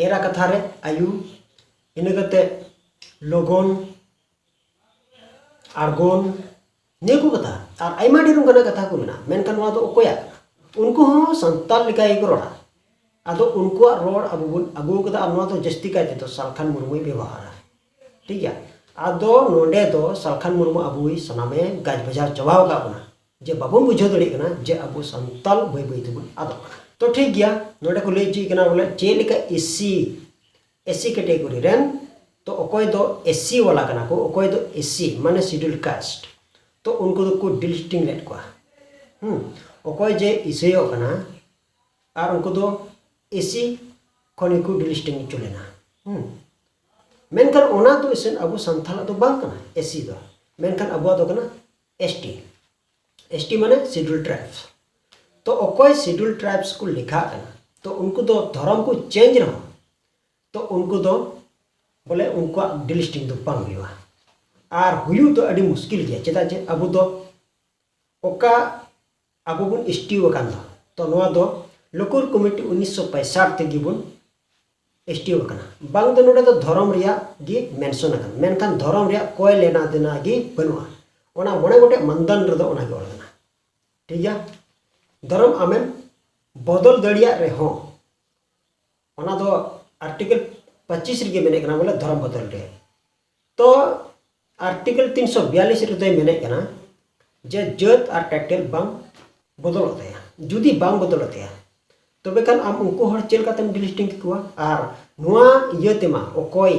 ᱮᱨᱟ ᱠᱟᱛᱷᱟ ᱨᱮ ᱟᱭᱳ ᱤᱱᱟᱹ ᱠᱟᱛᱮ ᱞᱚᱜᱚᱱ ᱟᱬᱜᱚᱱ ᱱᱤᱭᱟᱹ ᱠᱚ ᱠᱟᱛᱷᱟ ᱟᱨ ᱟᱭᱢᱟ ᱰᱷᱮᱨ ᱚᱱᱠᱟᱱᱟᱜ ᱠᱟᱛᱷᱟ ᱠᱚ ᱢᱮᱱᱟᱜᱼᱟ ᱢᱮᱱᱠᱷᱟᱱ ᱱᱚᱣᱟ ᱫᱚ ᱚᱠᱚᱭᱟᱜ ᱩᱱᱠᱩ ᱦᱚᱸ ᱥᱟᱱᱛᱟᱲ ᱞᱮᱠᱟ ᱜᱮᱠᱚ ᱨᱚᱲᱟ ᱟᱫᱚ ᱩᱱᱠᱩᱣᱟᱜ ᱨᱚᱲ ᱟᱵᱚ ᱵᱚᱱ ᱟᱹᱜᱩ ᱠᱟᱫᱟ ᱟᱨ ᱱᱚᱣᱟ ᱫᱚ ᱡᱟᱹᱥᱛᱤ ᱠᱟᱭ ᱛᱮᱫᱚ ᱥᱟᱞᱠᱷᱟᱱ ᱢᱩᱨᱢᱩᱭ ᱵᱮᱵᱚᱦᱟᱨᱟ ᱴᱷᱤᱠ ᱜᱮᱭᱟ ᱟᱫᱚ ᱱᱚᱰᱮ ᱫᱚ ᱥᱟᱞᱠᱷᱟᱱ ᱢᱩᱨᱢᱩ ᱟᱵᱚᱭ ᱥᱟᱱᱟᱢᱮ ᱜᱟᱡ ᱵᱟᱡᱟᱣ ᱪᱟᱵᱟ ᱟᱠᱟᱫ ᱵᱚᱱᱟ ᱡᱮ ᱵᱟᱵᱚᱱ ᱵᱩᱡᱷᱟᱹᱣ ᱫᱟᱲᱮᱭᱟᱜ ᱠᱟᱱᱟ ᱡᱮ ᱟᱵᱚ ᱥᱟᱱᱛᱟᱲ ᱵᱟᱹᱭ ᱵᱟᱹᱭ ᱛᱮᱵᱚᱱ ᱟᱫᱚᱜ ᱠᱟᱱᱟ ᱛᱚ ᱴᱷᱤᱠ ᱜᱮᱭᱟ ᱱᱚᱰᱮ ᱠᱚ ᱞᱟᱹᱭ ᱦᱚᱪᱚᱭᱮ ᱠᱟᱱᱟ ᱵᱚᱞᱮ ᱪᱮᱫ ᱞᱮᱠᱟ ᱮᱥᱤ ᱮᱥᱥᱤ ᱠᱮᱴᱮᱜᱚᱨᱤ ᱨᱮᱱ ᱛᱚ ᱚᱠᱚᱭ ᱫᱚ ᱮᱥᱥᱤ ᱣᱟᱞᱟ ᱠᱟᱱᱟ ᱠᱚ ᱚᱠᱚᱭ ᱫᱚ ᱮᱥᱥᱤ ᱢᱟᱱᱮ ᱥᱤᱰᱩᱞ ᱠᱟᱥᱴ ᱛᱚ ᱩᱱᱠᱩ ᱫᱚ ᱠᱚ ᱰᱤᱞᱤᱥᱴᱤᱝ ᱞᱮᱫ ᱠᱚᱣᱟ ᱦᱩᱸ ᱚᱠᱚᱭ ᱡᱮ ᱤᱥᱟᱹᱭᱚᱜ ᱠᱟᱱᱟ ᱟᱨ ᱩᱱᱠᱩ ᱫᱚ ᱮᱥᱥᱤ ᱠᱷᱚᱱ ᱜᱮ ᱠᱚ ᱰᱤᱞᱤᱥᱴᱤᱝ ᱦᱚᱪᱚ ᱞᱮᱱᱟ ᱦᱩᱸ ᱢᱮᱱᱠᱷᱟᱱ ᱚᱱᱟ ᱫᱚ ᱤᱥᱟᱹᱱ ᱟᱵᱚ ᱥᱟᱱᱛᱟᱲᱟᱜ ᱫᱚ ᱵᱟᱝ ᱠᱟᱱᱟ ᱮᱥᱥᱤ ᱫᱚ ᱢᱮᱱᱠᱷᱟᱱ ᱟᱵᱚᱣᱟᱜ ᱫᱚ ᱠᱟᱱᱟ ᱮᱥᱴᱤ ᱮᱥ ᱴᱤ ᱢᱟᱱᱮ ᱥᱤᱰᱩᱞ ᱴᱨᱟᱭᱤᱵᱽᱥ ᱛᱚ ᱚᱠᱚᱭ ᱥᱤᱰᱩᱞ ᱴᱨᱟᱭᱤᱵᱽᱥ ᱠᱚ ᱞᱮᱠᱷᱟᱜ ᱠᱟᱱᱟ ᱛᱚ ᱩᱱᱠᱩ ᱫᱚ ᱫᱷᱚᱨᱚᱢ ᱠᱚ ᱪᱮᱧᱡᱽ ᱨᱮᱦᱚᱸ ᱛᱚ ᱩᱱᱠᱩ ᱫᱚ ᱵᱚᱞᱮ ᱩᱱᱠᱩᱣᱟᱜ ᱰᱤᱞᱤᱥᱴᱤᱝ ᱫᱚ ᱵᱟᱝ ᱦᱩᱭᱩᱜᱼᱟ ᱟᱨ ᱦᱩᱭᱩᱜ ᱫᱚ ᱟᱹᱰᱤ ᱢᱩᱥᱠᱤᱞ ᱜᱮᱭᱟ ᱪᱮᱫᱟᱜ ᱡᱮ ᱟᱵᱚ ᱫᱚ ᱚᱠᱟ ᱟᱵᱚ ᱵᱚᱱ ᱮᱥ ᱴᱤ ᱟᱠᱟᱱ ᱫᱚ ᱛᱚ ᱱᱚᱣᱟ ᱫᱚ ᱞᱳᱠᱚᱨ ᱠᱚᱢᱤᱴᱤ ᱩᱱᱤᱥᱥᱚ ᱯᱚᱸᱭᱥᱟᱴ ᱛᱮᱜᱮ ᱵᱚᱱ ᱮᱥᱴᱤᱣ ᱟᱠᱟᱱᱟ ᱵᱟᱝ ᱫᱚ ᱱᱚᱰᱮ ᱫᱚ ᱫᱷᱚᱨᱚᱢ ᱨᱮᱭᱟᱜ ᱜᱮ ᱢᱮᱱᱥᱚᱱ ᱟᱠᱟᱱᱟ ᱢᱮᱱᱠᱷᱟᱱ ᱫᱷᱚᱨᱚᱢ ᱨᱮᱭᱟᱜ ᱠᱚᱭ ᱞᱮᱱᱟ ᱫᱮᱱᱟ ᱜᱮ ᱵᱟᱹᱱᱩᱜᱼᱟ ᱚᱱᱟ ᱢᱚᱬᱮ ᱜᱚᱴᱮᱡ ᱢᱟᱱᱫᱟᱱ ᱨᱮᱫᱚ ᱚᱱᱟ ᱜᱮ ᱚᱞ ᱟᱠᱟᱱᱟ ᱴᱷᱤᱠ ᱜᱮᱭᱟ ᱫᱷᱚᱨᱚᱢ ᱟᱢᱮᱢ ᱵᱚᱫᱚᱞ ᱫᱟᱲᱮᱭᱟᱜ ᱨᱮᱦᱚᱸ ᱚᱱᱟ ᱫᱚ ᱟᱨᱴᱤᱠᱮᱞ ᱯᱚᱸᱪᱤᱥ ᱨᱮᱜᱮ ᱢᱮᱱᱮᱫ ᱠᱟᱱᱟ ᱵᱚᱞᱮ ᱫᱷᱚᱨᱚᱢ ᱵᱚᱫᱚᱞ ᱨᱮ ᱛᱚ ᱟᱨᱴᱤᱠᱮᱞ ᱛᱤᱱ ᱥᱚ ᱵᱤᱭᱟᱞᱤᱥ ᱨᱮᱫᱚᱭ ᱢᱮᱱᱮᱫ ᱠᱟᱱᱟ ᱡᱮ ᱡᱟᱹᱛ ᱟᱨ ᱴᱟᱭᱴᱮᱞ ᱵᱟᱝ ᱵᱚᱫᱚᱞᱚᱜ ᱛᱟᱭᱟ ᱡᱩᱫᱤ ᱵᱟᱝ ᱵᱚᱫᱚᱞᱚᱜ ᱛᱟᱭᱟ ᱛᱚᱵᱮ ᱠᱷᱟᱱ ᱟᱢ ᱩᱱᱠᱩ ᱦᱚᱲ ᱪᱮᱫ ᱞᱮᱠᱟᱛᱮᱢ ᱰᱤᱞᱤᱥᱴᱤᱝ ᱠᱮᱠᱚᱣᱟ ᱟᱨ ᱱᱚᱣᱟ ᱤᱭᱟᱹ ᱛᱮᱢᱟ ᱚᱠᱚᱭ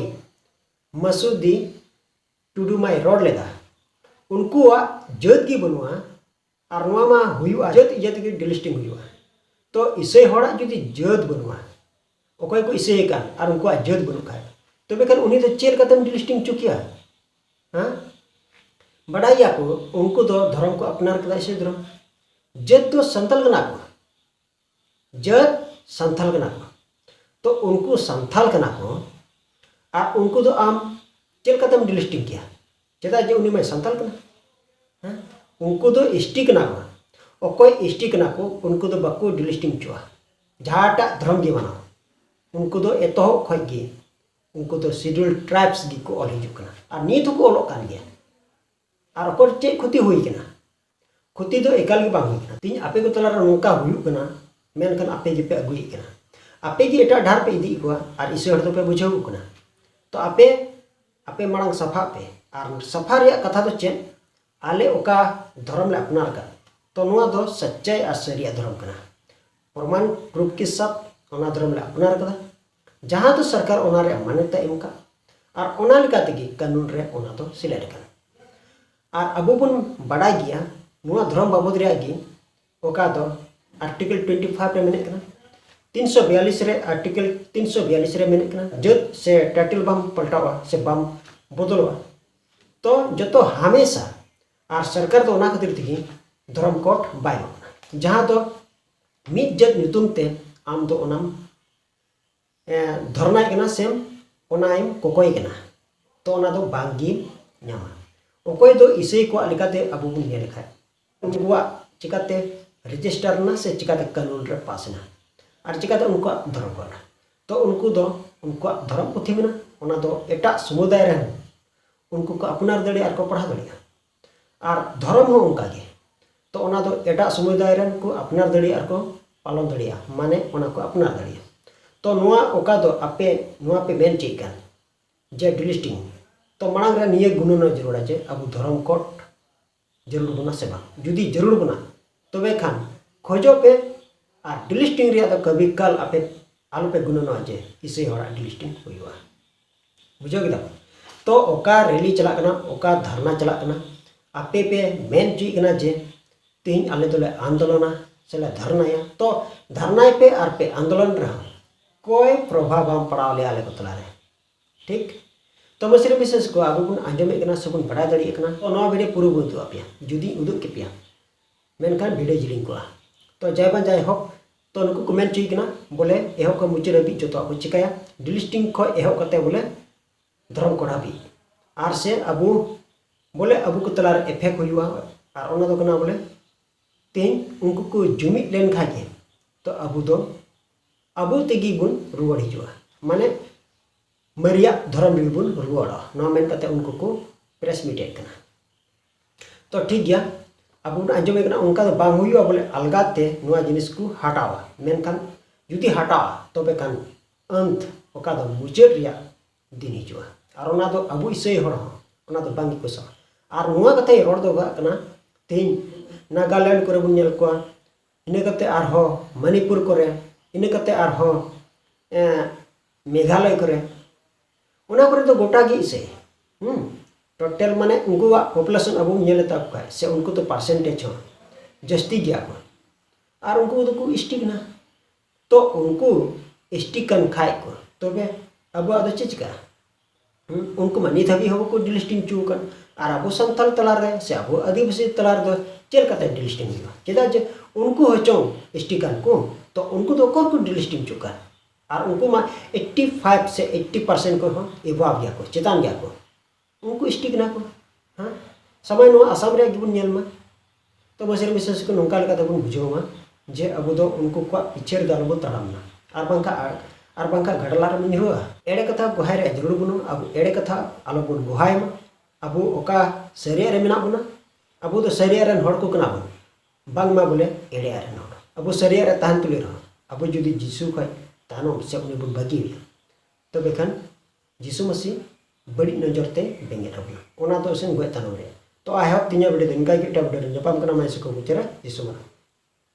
ᱢᱟᱥᱩᱫᱤ ᱴᱩᱰᱩ ᱢᱟᱭ ᱨᱚᱲ ᱞᱮᱫᱟ ᱩᱱᱠᱩᱣᱟᱜ ᱡᱟᱹᱛ ᱜᱮ ᱵᱟᱹᱱᱩᱜᱼᱟ ᱟᱨ ᱱᱚᱣᱟ ᱢᱟ ᱦᱩᱭᱩᱜᱼᱟ ᱡᱟᱹᱛ ᱤᱭᱟᱹ ᱛᱮᱜᱮ ᱰᱤᱞᱤᱥᱴᱤᱝ ᱦᱩᱭᱩᱜᱼᱟ ᱛᱚ ᱤᱥᱟᱹᱭ ᱦᱚᱲᱟᱜ ᱡᱩᱫᱤ ᱡᱟᱹᱛ ᱵᱟᱹᱱᱩᱜᱼᱟ ᱚᱠᱚᱭ ᱠᱚ ᱤᱥᱟᱹᱭᱮ ᱠᱟᱱ ᱟᱨ ᱩᱱᱠᱩᱣᱟᱜ ᱡᱟᱹᱛ ᱵᱟᱹᱱᱩᱜ ᱠᱷᱟᱡ ᱛᱚᱵᱮ ᱠᱷᱟᱱ ᱩᱱᱤ ᱫᱚ ᱪᱮᱫ ᱞᱮᱠᱟᱛᱮᱢ ᱰᱤᱞᱤᱥᱴᱤᱝ ᱦᱚᱪᱚ ᱠᱮᱭᱟ ᱦᱮᱸ ᱵᱟᱰᱟᱭ ᱜᱮᱭᱟ ᱠᱚ ᱩᱱᱠᱩ ᱫᱚ ᱫᱷᱚᱨᱚᱢ ᱠᱚ ᱟᱯᱱᱟᱨ ᱠᱮᱫᱟ ᱤᱥᱟᱹᱭ ᱫᱷᱚᱨᱚᱢ ᱡᱟᱹᱛ ᱫᱚ ᱥᱟᱱᱛᱟᱲ ᱠᱟᱱᱟ ᱠᱚ ᱡᱟᱹᱛ ᱥᱟᱱᱛᱟᱞ ᱠᱟᱱᱟ ᱠᱚ ᱛᱚ ᱩᱱᱠᱩ ᱥᱟᱱᱛᱟᱞ ᱠᱟᱱᱟ ᱠᱚ ᱟᱨ ᱩᱱᱠᱩ ᱫᱚ ᱟᱢ ᱪᱮᱫ ᱞᱮᱠᱟᱛᱮᱢ ᱰᱤᱞᱤᱥᱴᱤᱝ ᱠᱮᱭᱟ ᱪᱮᱫᱟᱜ ᱡᱮ ᱩᱱᱤ ᱢᱟᱭ ᱥᱟᱱᱛᱟᱞ ᱠᱟᱱᱟ ᱦᱮᱸ ᱩᱱᱠᱩ ᱫᱚ ᱮᱥᱴᱤ ᱠᱟᱱᱟ ᱠᱚ ᱚᱠᱚᱭ ᱮᱥᱴᱤ ᱠᱟᱱᱟ ᱠᱚ ᱩᱱᱠᱩ ᱫᱚ ᱵᱟᱠᱚ ᱰᱤᱞᱤᱥᱴᱤᱝ ᱦᱚᱪᱚᱜᱼᱟ ᱡᱟᱦᱟᱸᱴᱟᱜ ᱫᱷᱚᱨᱚᱢ ᱜᱮ ᱢᱟᱱᱟᱣ ᱩᱱᱠᱩ ᱫᱚ ᱮᱛᱚᱦᱚᱵ ᱠᱷᱚᱡ ᱜᱮ ᱩᱱᱠᱩ ᱫᱚ ᱥᱤᱰᱩᱞ ᱴᱨᱟᱭᱵᱥ ᱜᱮᱠᱚ ᱚᱞ ᱦᱤᱡᱩᱜ ᱠᱟᱱᱟ ᱟᱨ ᱱᱤᱛ ᱦᱚᱸᱠᱚ ᱚᱞᱚᱜ ᱠᱟᱱ ᱜᱮᱭᱟ ᱟᱨ ᱚᱠᱚᱭ ᱪᱮᱫ ᱠᱷᱚᱛᱤ ᱦᱩᱭ ᱠᱟᱱᱟ ᱠᱷᱚᱛᱤ ᱫᱚ ᱮᱠᱟᱞ ᱜᱮ ᱵᱟᱝ ᱦᱩᱭ ᱠᱟᱱᱟ ᱛᱤᱧ ᱟᱯᱮ ᱠᱚ ᱛᱟᱞᱟᱨᱮ ᱱᱚᱝᱠᱟ ᱦᱩᱭᱩᱜ ᱠᱟᱱᱟ ᱢᱮᱱᱠᱷᱟᱱ ᱟᱯᱮ ᱜᱮᱯᱮ ᱟᱹᱜᱩᱭᱮᱫ ᱠᱟᱱᱟ ᱟᱯᱮ ᱜᱮ ᱮᱴᱟᱜ ᱰᱟᱦᱟᱨ ᱯᱮ ᱤᱫᱤᱭᱮᱫ ᱠᱚᱣᱟ ᱟᱨ ᱤᱥᱟᱹ ᱦᱚᱲ ᱫᱚᱯᱮ ᱵᱩᱡᱷᱟᱹᱣ ᱠᱟᱱᱟ ᱛᱚ ᱟᱯᱮ ᱟᱯᱮ ᱢᱟᱲᱟᱝ ᱥᱟᱯᱷᱟᱜ ᱯᱮ ᱟᱨ ᱥᱟᱯᱷᱟ ᱨᱮᱭᱟᱜ ᱠᱟᱛᱷᱟ ᱫᱚ ᱪᱮᱫ ᱟᱞᱮ ᱚᱠᱟ ᱫᱷᱚᱨᱚᱢ ᱞᱮ ᱟᱯᱱᱟᱨ ᱟᱠᱟᱫ ᱛᱚ ᱱᱚᱣᱟ ᱫᱚ ᱥᱟᱪᱪᱟᱭ ᱟᱨ ᱥᱟᱹᱨᱤᱭᱟᱜ ᱫᱷᱚᱨᱚᱢ ᱠᱟᱱᱟ ᱯᱨᱚᱢᱟᱱ ᱯᱨᱩᱯᱷ ᱠᱮ ᱥᱟᱛ ᱚᱱᱟ ᱫᱷᱚᱨᱚᱢ ᱞᱮ ᱟᱯᱱᱟᱨ ᱟᱠᱟᱫᱟ ᱡᱟᱦᱟᱸ ᱫᱚ ᱥᱚᱨᱠᱟᱨ ᱚᱱᱟ ᱨᱮᱭᱟᱜ ᱢᱟᱱᱚᱛ ᱮ ᱮᱢ ᱟᱠᱟᱫ ᱟᱨ ᱚᱱᱟ ᱞᱮᱠᱟ ᱛᱮᱜᱮ ᱠᱟᱹᱱᱩᱱ ᱨᱮ ᱚᱱᱟ ᱫᱚ ᱥᱮᱞᱮᱫ ᱟᱠᱟᱱᱟ ᱟᱨ ᱟᱵᱚ ᱵᱚᱱ ᱵᱟᱰᱟᱭ ᱜᱮᱭᱟ ᱱᱚᱣᱟ ᱫᱷᱚᱨᱚᱢ ᱵᱟᱵᱚᱫ ᱨᱮᱭᱟᱜ ᱜᱮ ᱚᱠᱟ ᱫᱚ ᱟᱨᱴᱤᱠᱮᱞ ᱴᱩᱭᱮᱱᱴᱤ ᱯᱷᱟᱭᱤᱵᱷ ᱨᱮ ᱢᱮᱱᱟᱜ ᱠᱟᱱᱟ ᱛᱤᱱ ᱥᱚ ᱵᱤᱭᱟᱞᱤᱥ ᱨᱮ ᱟᱨᱴᱤᱠᱮᱞ ᱛᱤᱱ ᱥᱚ ᱵᱤᱭᱟᱞᱤᱥ ᱨᱮ ᱢᱮᱱᱟᱜ ᱠᱟᱱᱟ ᱡᱟᱹᱛ ᱥᱮ ᱴᱟᱭᱴᱮᱞ ᱵᱟᱢ ᱯᱟᱞᱴᱟᱣᱟ ᱥᱮ ᱵᱟᱢ ᱵᱚᱫᱚᱞᱚᱜᱼᱟ ᱛᱚ ᱡᱚᱛᱚ ᱦᱟᱢᱮᱥᱟ ᱟᱨ ᱥᱚᱨᱠᱟᱨ ᱫᱚ ᱚᱱᱟ ᱠᱷᱟᱹᱛᱤᱨ ᱛᱮᱜᱮ ᱫᱷᱚᱨᱚᱢ ᱠᱳᱰ ᱵᱟᱭ ᱮᱢᱚᱜ ᱠᱟᱱᱟ ᱡᱟᱦᱟᱸ ᱫᱚ ᱢᱤᱫ ᱡᱟᱹᱛ ᱧᱩᱛᱩᱢ ᱛᱮ ᱟᱢ ᱫᱚ ᱚᱱᱟᱢ ᱫᱷᱚᱨᱱᱟᱭ ᱠᱟᱱᱟ ᱥᱮᱢ ᱚᱱᱟᱭᱮᱢ ᱠᱚᱠᱚᱭ ᱠᱟᱱᱟ ᱛᱚ ᱚᱱᱟ ᱫᱚ ᱵᱟᱝ ᱜᱮ ᱧᱟᱢᱟ ᱚᱠᱚᱭ ᱫᱚ ᱤᱥᱟᱹᱭ ᱠᱚᱣᱟᱜ ᱞᱮᱠᱟᱛᱮ ᱟᱵᱚ ᱵᱚᱱ ᱧᱮᱞ ᱞᱮᱠᱷᱟᱡ ᱩᱱᱠᱩᱣᱟᱜ ᱪᱤᱠᱟᱛᱮ ᱨᱮᱡᱤᱥᱴᱟᱨ ᱮᱱᱟ ᱥᱮ ᱪᱤᱠᱟᱛᱮ ᱠᱟᱹᱱᱩᱱ ᱨᱮ ᱯᱟᱥ ᱮᱱᱟ ᱟᱨ ᱪᱤᱠᱟᱛᱮ ᱩᱱᱠᱩᱣᱟᱜ ᱫᱷᱚᱨᱚᱢ ᱠᱚ ᱢᱮᱱᱟᱜᱼᱟ ᱛᱚ ᱩᱱᱠᱩ ᱫᱚ ᱩᱱᱠᱩᱣᱟᱜ ᱫᱷᱚᱨᱚᱢ ᱯᱩᱛᱷᱤ ᱢᱮᱱᱟᱜᱼᱟ ᱚᱱᱟ ᱫᱚ ᱮᱴᱟᱜ ᱥᱚᱢᱩᱫᱟᱭ ᱨᱮᱦᱚᱸ ᱩᱱᱠᱩ ᱠᱚ ᱟᱯᱱᱟᱨ ᱫᱟᱲᱮᱭᱟᱜᱼᱟ ᱟᱨ ᱠᱚ ᱯᱟᱲᱦᱟᱣ ᱫᱟᱲᱮᱭᱟᱜᱼᱟ ᱟᱨ ᱫᱷᱚᱨᱚᱢ ᱦᱚᱸ ᱚᱱᱠᱟ ᱜᱮ ᱛᱚ ᱚᱱᱟ ᱫᱚ ᱮᱴᱟᱜ ᱥᱚᱢᱩᱫᱟᱭ ᱨᱮᱱ ᱠᱚ ᱟᱯᱱᱟᱨ ᱫᱟᱲᱮᱭᱟᱜᱼᱟ ᱟᱨ ᱠᱚ ᱯᱟᱞᱚᱱ ᱫᱟᱲᱮᱭᱟᱜᱼᱟ ᱢᱟᱱᱮ ᱚᱱᱟ ᱠᱚ ᱟᱯᱱᱟᱨ ᱫᱟᱲᱮᱭᱟᱜᱼᱟ ᱛᱚ ᱱᱚᱣᱟ ᱚᱠᱟ ᱫᱚ ᱟᱯᱮ ᱱᱚᱣᱟ ᱯᱮ ᱢᱮᱱ ᱦᱚᱪᱚᱭᱮᱫ ᱠᱟᱱ ᱡᱮ ᱰᱤᱞᱤᱥᱴᱤᱝ ᱛᱚ ᱢᱟᱲᱟᱝ ᱨᱮ ᱱᱤᱭᱟᱹ ᱜᱩᱱᱟᱹᱱᱚᱜ ᱡᱟᱹᱨᱩᱲᱟ ᱡᱮ ᱟᱵᱚ ᱫᱷᱚᱨᱚᱢ ᱠᱳᱰ ᱡᱟᱹᱨᱩᱲ ᱵᱚᱱᱟ ᱥᱮ ᱵᱟᱝ ᱡᱩᱫᱤ ᱡᱟᱹᱨᱩᱲ ᱵᱚᱱᱟ ᱛᱚᱵᱮ ᱠᱷᱟᱱ ᱠᱷᱚᱡᱚᱜ ᱯᱮ ᱟᱨ ᱰᱤᱞᱤᱥᱴᱤᱝ ᱨᱮᱭᱟᱜ ᱫᱚ ᱠᱟᱹᱵᱷᱤ ᱠᱟᱞ ᱟᱯᱮ ᱟᱞᱚᱯᱮ ᱜᱩᱱᱟᱹᱱᱚᱜᱼᱟ ᱡᱮ ᱤᱥᱟᱹᱭ ᱦᱚᱲᱟᱜ ᱰᱤᱞᱤᱥᱴᱤᱝ ᱦᱩᱭᱩᱜᱼᱟ ᱵᱩᱡᱷᱟᱹᱣ ᱠᱮᱫᱟᱢ ᱛᱚ ᱚᱠᱟ ᱨᱮᱞᱤ ᱪᱟᱞᱟᱜ ᱠᱟᱱᱟ ᱚᱠᱟ ᱫᱷᱟᱨᱱᱟ ᱪᱟᱞᱟᱜ ᱠᱟᱱᱟ ᱟᱯᱮ ᱯᱮ ᱢᱮᱱ ᱦᱚᱪᱚᱭᱮᱫ ᱠᱟᱱᱟ ᱡᱮ ᱛᱮᱦᱮᱧ ᱟᱞᱮ ᱫᱚᱞᱮ ᱟᱱᱫᱳᱞᱚᱱᱟ ᱥᱮᱞᱮ ᱫᱷᱟᱨᱱᱟᱭᱟ ᱛᱚ ᱫᱷᱟᱨᱱᱟᱭ ᱯᱮ ᱟᱨ ᱯᱮ ᱟᱱᱫᱳᱞᱚᱱ ᱨᱮᱦᱚᱸ ᱠᱚᱭ ᱯᱨᱚᱵᱷᱟᱵᱽ ᱵᱟᱝ ᱯᱟᱲᱟᱣ ᱞᱮᱭᱟ ᱟᱞᱮ ᱠᱚ ᱛᱟᱞᱟᱨᱮ ᱴᱷᱤᱠ ᱛᱚ ᱢᱟᱹᱥᱨᱤ ᱵᱤᱥᱮᱥ ᱠᱚ ᱟᱵᱚ ᱵᱚᱱ ᱟᱸᱡᱚᱢᱮᱫ ᱠᱟᱱᱟ ᱥᱮᱵᱚᱱ ᱵᱟᱰᱟᱭ ᱫᱟᱲᱮᱭᱟᱜ ᱠᱟᱱᱟ ᱛᱚ ᱱᱚᱣᱟ ᱵᱷᱤᱰᱤᱭᱳ ᱯᱩᱨᱟᱹ ᱵᱚᱱ ᱩᱫᱩᱜ ᱟᱯᱮᱭᱟ ᱡᱩᱫᱤᱧ ᱩᱫᱩᱜ ᱠᱮᱯᱮᱭᱟ ᱢᱮᱱᱠᱷᱟᱱ ᱵᱷᱤᱰᱤᱭᱳ ᱡᱤᱞᱤᱧ ᱠᱚᱜᱼᱟ ᱛᱚ ᱡᱟᱭ ᱵᱟᱝ ᱡᱟᱭ ᱦᱳᱠ ᱛᱚ ᱱᱩᱠᱩ ᱠᱚ ᱢᱮᱱ ᱦᱚᱪᱚᱭᱮᱫ ᱠᱟᱱᱟ ᱵᱚᱞᱮ ᱮᱦᱚᱵ ᱠᱷᱚᱱ ᱢᱩᱪᱟᱹᱫ ᱦᱟᱹᱵᱤᱡ ᱡᱚᱛᱚᱣᱟᱜ ᱠᱚ ᱪᱤᱠᱟᱹᱭᱟ ᱰᱤᱞᱤᱥᱴᱤᱝ ᱠᱷᱚᱱ ᱮᱦᱚᱵ ᱠᱟᱛᱮ ᱵᱚᱞᱮ ᱫᱷᱚᱨᱚᱢ ᱠᱚᱰ ᱦᱟᱹᱵᱤᱡ ᱟᱨ ᱥᱮ ᱟᱵᱚ ᱵᱚᱞᱮ ᱟᱵᱚ ᱠᱚ ᱛᱟᱞᱟᱨᱮ ᱮᱯᱷᱮᱠᱴ ᱦᱩᱭᱩᱜᱼᱟ ᱟᱨ ᱚᱱᱟ ᱫᱚ ᱠᱟᱱᱟ ᱵᱚᱞᱮ ᱛᱮᱦᱮᱧ ᱩᱱᱠᱩ ᱠᱚ ᱡᱩᱢᱤᱫ ᱞᱮᱱᱠᱷᱟᱱ ᱜᱮ ᱛᱚ ᱟᱵᱚ ᱫᱚ ᱟᱵᱚ ᱛᱮᱜᱮ ᱵᱚᱱ ᱨᱩᱣᱟᱹᱲ ᱦᱤᱡᱩᱜᱼᱟ ᱢᱟᱱᱮ ᱢᱟᱨᱮᱭᱟᱜ ᱫᱷᱚᱨᱚᱢ ᱨᱮᱜᱮ ᱵᱚᱱ ᱨᱩᱣᱟᱹᱲᱚᱜᱼᱟ ᱱᱚᱣᱟ ᱢᱮᱱ ᱠᱟᱛᱮ ᱩᱱᱠᱩ ᱠᱚ ᱯᱨᱮᱥ ᱢᱤᱴᱮᱫ ᱠᱟᱱᱟ ᱛᱚ ᱴᱷᱤᱠ ᱜᱮᱭᱟ ᱟᱵᱚ ᱵᱚᱱ ᱟᱸᱡᱚᱢᱮ ᱠᱟᱱᱟ ᱚᱱᱠᱟ ᱫᱚ ᱵᱟᱝ ᱦᱩᱭᱩᱜᱼᱟ ᱵᱚᱞᱮ ᱟᱞᱜᱟ ᱛᱮ ᱱᱚᱣᱟ ᱡᱤᱱᱤᱥ ᱠᱚ ᱦᱟᱴᱟᱣᱟ ᱢᱮᱱᱠᱷᱟᱱ ᱡᱩᱫᱤ ᱦᱟᱴᱟᱜᱼᱟ ᱛᱚᱵᱮ ᱠᱷᱟᱱ ᱟᱹᱱᱛ ᱚᱠᱟ ᱫᱚ ᱢᱩᱪᱟᱹᱫ ᱨᱮᱭᱟᱜ ᱫᱤᱱ ᱦᱤᱡᱩᱜᱼᱟ ᱟᱨ ᱚᱱᱟ ᱫᱚ ᱟᱵᱚ ᱤᱥᱟᱹᱭ ᱦᱚᱲ ᱦᱚᱸ ᱚᱱᱟ ᱫᱚ ᱵᱟᱝ ᱜᱮᱠᱚ ᱥᱟᱵᱟ ᱟᱨ ᱱᱚᱣᱟ ᱠᱟᱛᱷᱟᱧ ᱨᱚᱲ ᱫᱚᱦᱚ ᱠᱟᱜ ᱠᱟᱱᱟ ᱛᱮᱦᱮᱧ ᱱᱟᱜᱟᱞᱮᱱᱰ ᱠᱚᱨᱮ ᱵᱚᱱ ᱧᱮᱞ ᱠᱚᱣᱟ ᱤᱱᱟᱹ ᱠᱟᱛᱮ ᱟᱨᱦᱚᱸ ᱢᱚᱱᱤᱯᱩᱨ ᱠᱚᱨᱮ ᱤᱱᱟᱹ ᱠᱟᱛᱮ ᱟᱨᱦᱚᱸ ᱢᱮᱜᱷᱟᱞᱚᱭ ᱠᱚᱨᱮ ᱚᱱᱟ ᱠᱚᱨᱮ ᱫᱚ ᱜᱚᱴᱟ ᱜᱮ ᱤᱥᱟᱹᱭ ᱦᱩᱸ ᱴᱳᱴᱟᱞ ᱢᱟᱱᱮ ᱩᱱᱠᱩᱣᱟᱜ ᱯᱚᱯᱩᱞᱮᱥᱚᱱ ᱟᱵᱚ ᱵᱚᱱ ᱧᱮᱞ ᱛᱟᱠᱚ ᱠᱷᱟᱱ ᱥᱮ ᱩᱱᱠᱩ ᱫᱚ ᱯᱟᱨᱥᱮᱱᱴᱮᱡᱽ ᱦᱚᱸ ᱡᱟᱹᱥᱛᱤ ᱜᱮᱭᱟ ᱠᱚ ᱟᱨ ᱩᱱᱠᱩ ᱫᱚᱠᱚ ᱮᱥᱴᱤ ᱠᱟᱱᱟ ᱛᱚ ᱩᱱᱠᱩ ᱮᱥᱴᱤ ᱠᱟᱱ ᱠᱷᱟᱡ ᱠᱚ ᱛᱚᱵᱮ ᱟᱵᱚᱣᱟᱜ ᱫᱚ ᱪᱮᱫ ᱪᱤᱠᱟᱹᱜᱼᱟ ᱩᱱᱠᱩ ᱢᱟ ᱱᱤᱛ ᱦᱟᱹᱵᱤᱡ ᱦᱚᱸ ᱵᱟᱠᱚ ᱰᱤᱞᱤᱥᱴᱤᱝ ᱦᱚᱪᱚ ᱟᱠᱟᱱ ᱟᱨ ᱟᱵᱚ ᱥᱟᱱᱛᱟᱲ ᱛᱟᱞᱟᱨᱮ ᱥᱮ ᱟᱵᱚ ᱟᱹᱫᱤᱵᱟᱹᱥᱤ ᱛᱟᱞᱟ ᱨᱮᱫᱚ ᱪᱮᱫ ᱞᱮᱠᱟᱛᱮ ᱰᱤᱞᱤᱥᱴᱤᱝ ᱦᱩᱭᱩᱜᱼᱟ ᱪᱮᱫᱟᱜ ᱡᱮ ᱩᱱᱠᱩ ᱦᱚᱸ ᱪᱚᱝ ᱮᱥᱴᱤ ᱠᱟᱱ ᱠᱚ ᱛᱚ ᱩᱱᱠᱩ ᱫᱚ ᱚᱠᱚᱭ ᱠᱚ ᱰᱤᱞᱤᱥᱴᱤᱝ ᱦᱚᱪᱚᱜ ᱠᱟᱱ ᱟᱨ ᱩᱱᱠᱩ ᱢᱟ ᱮᱭᱤᱴᱴᱤ ᱯᱷᱟᱭᱤᱵᱷ ᱥᱮ ᱮᱭᱤᱴᱴᱤ ᱯᱟᱨᱥᱮᱱᱴ ᱠᱷᱚᱱ ᱦᱚᱸ ᱮᱵᱷᱟᱵᱽ ᱜᱮᱭᱟ ᱠᱚ ᱪᱮᱛᱟᱱ ᱜᱮᱭᱟ ᱠᱚ ᱩᱱᱠᱩ ᱮᱥ ᱴᱤ ᱠᱟᱱᱟ ᱠᱚ ᱦᱮᱸ ᱥᱟᱢᱟᱭ ᱱᱚᱣᱟ ᱟᱥᱟᱢ ᱨᱮᱭᱟᱜ ᱜᱮᱵᱚᱱ ᱧᱮᱞ ᱢᱟ ᱛᱚ ᱵᱚᱥᱮᱨ ᱵᱤᱥᱮᱥ ᱠᱚ ᱱᱚᱝᱠᱟ ᱞᱮᱠᱟᱛᱮ ᱵᱚᱱ ᱵᱩᱡᱷᱟᱹᱣ ᱢᱟ ᱡᱮ ᱟᱵᱚ ᱫᱚ ᱩᱱᱠᱩ ᱠᱚᱣᱟᱜ ᱯᱤᱪᱷᱮ ᱨᱮᱫᱚ ᱟᱞᱚ ᱵᱚᱱ ᱛᱟᱲᱟᱢ ᱢᱟ ᱟᱨ ᱵᱟᱝᱠᱷᱟᱱ ᱟᱨ ᱵᱟᱝᱠᱷᱟᱱ ᱜᱟᱰᱞᱟ ᱨᱮᱵᱚᱱ ᱧᱩᱨᱩᱜᱼᱟ ᱮᱲᱮ ᱠᱟᱛᱷᱟ ᱜᱚᱦᱟᱭ ᱨᱮᱭᱟᱜ ᱡᱟᱹᱨᱩᱲ ᱵᱟᱹᱱᱩᱜᱼᱟ ᱟᱵᱚ ᱮᱲᱮ ᱠᱟᱛᱷᱟ ᱟᱞᱚ ᱵᱚᱱ ᱜᱚᱦᱟᱭ ᱢᱟ ᱟᱵᱚ ᱚᱠᱟ ᱥᱟᱹᱨᱤᱭᱟᱜ ᱨᱮ ᱢᱮᱱᱟᱜ ᱵᱚᱱᱟ ᱟᱵᱚ ᱫᱚ ᱥᱟᱹᱨᱤᱭᱟᱜ ᱨᱮᱱ ᱦᱚᱲ ᱠᱚ ᱠᱟᱱᱟ ᱵᱚᱱ ᱵᱟᱝ ᱢᱟ ᱵᱚᱞᱮ ᱮᱲᱮ ᱟᱨ ᱨᱮᱱ ᱦᱚᱲ ᱟᱵᱚ ᱥᱟᱹᱨᱤᱭᱟᱜ ᱨᱮ ᱛᱟᱦᱮᱱ ᱛᱩᱞᱩᱡ ᱨᱮᱦᱚᱸ ᱟᱵᱚ ᱡᱩᱫᱤ ᱡᱤᱥᱩ ᱠᱷᱚᱡ ᱛᱟᱭᱱᱚᱢ ᱥᱮ ᱩᱱᱤ ᱵᱚᱱ ᱵᱟᱹᱜᱤ ᱟᱭᱟ ᱛᱚᱵᱮ ᱠᱷᱟᱱ ᱡᱤᱥᱩ ᱢᱟᱹᱥᱤ ᱵᱟᱹᱲᱤᱡ ᱱᱚᱡᱚᱨ ᱛᱮ ᱵᱮᱸᱜᱮᱫ ᱟᱵᱚᱱᱟ ᱚᱱᱟ ᱫᱚ ᱮᱥᱮᱱ ᱜᱚᱡ ᱛᱟᱭᱱᱚᱢ ᱨᱮ ᱛᱚ ᱟᱭ ᱦᱚᱯ ᱛᱤᱧᱟᱹᱜ ᱵᱷᱤᱰᱤᱭᱳ ᱫᱚ ᱤᱱᱠᱟ ᱜᱮ ᱮᱴᱟᱜ ᱵᱷᱤᱰᱤᱭᱳ ᱨᱮ ᱧᱟᱯᱟᱢ ᱠᱟᱱᱟ ᱢᱟ ᱡᱤᱥᱩ ᱠᱚ ᱵᱩᱡᱷᱟᱹᱨᱟ ᱡᱤᱥᱩ ᱢᱟᱨᱟᱝ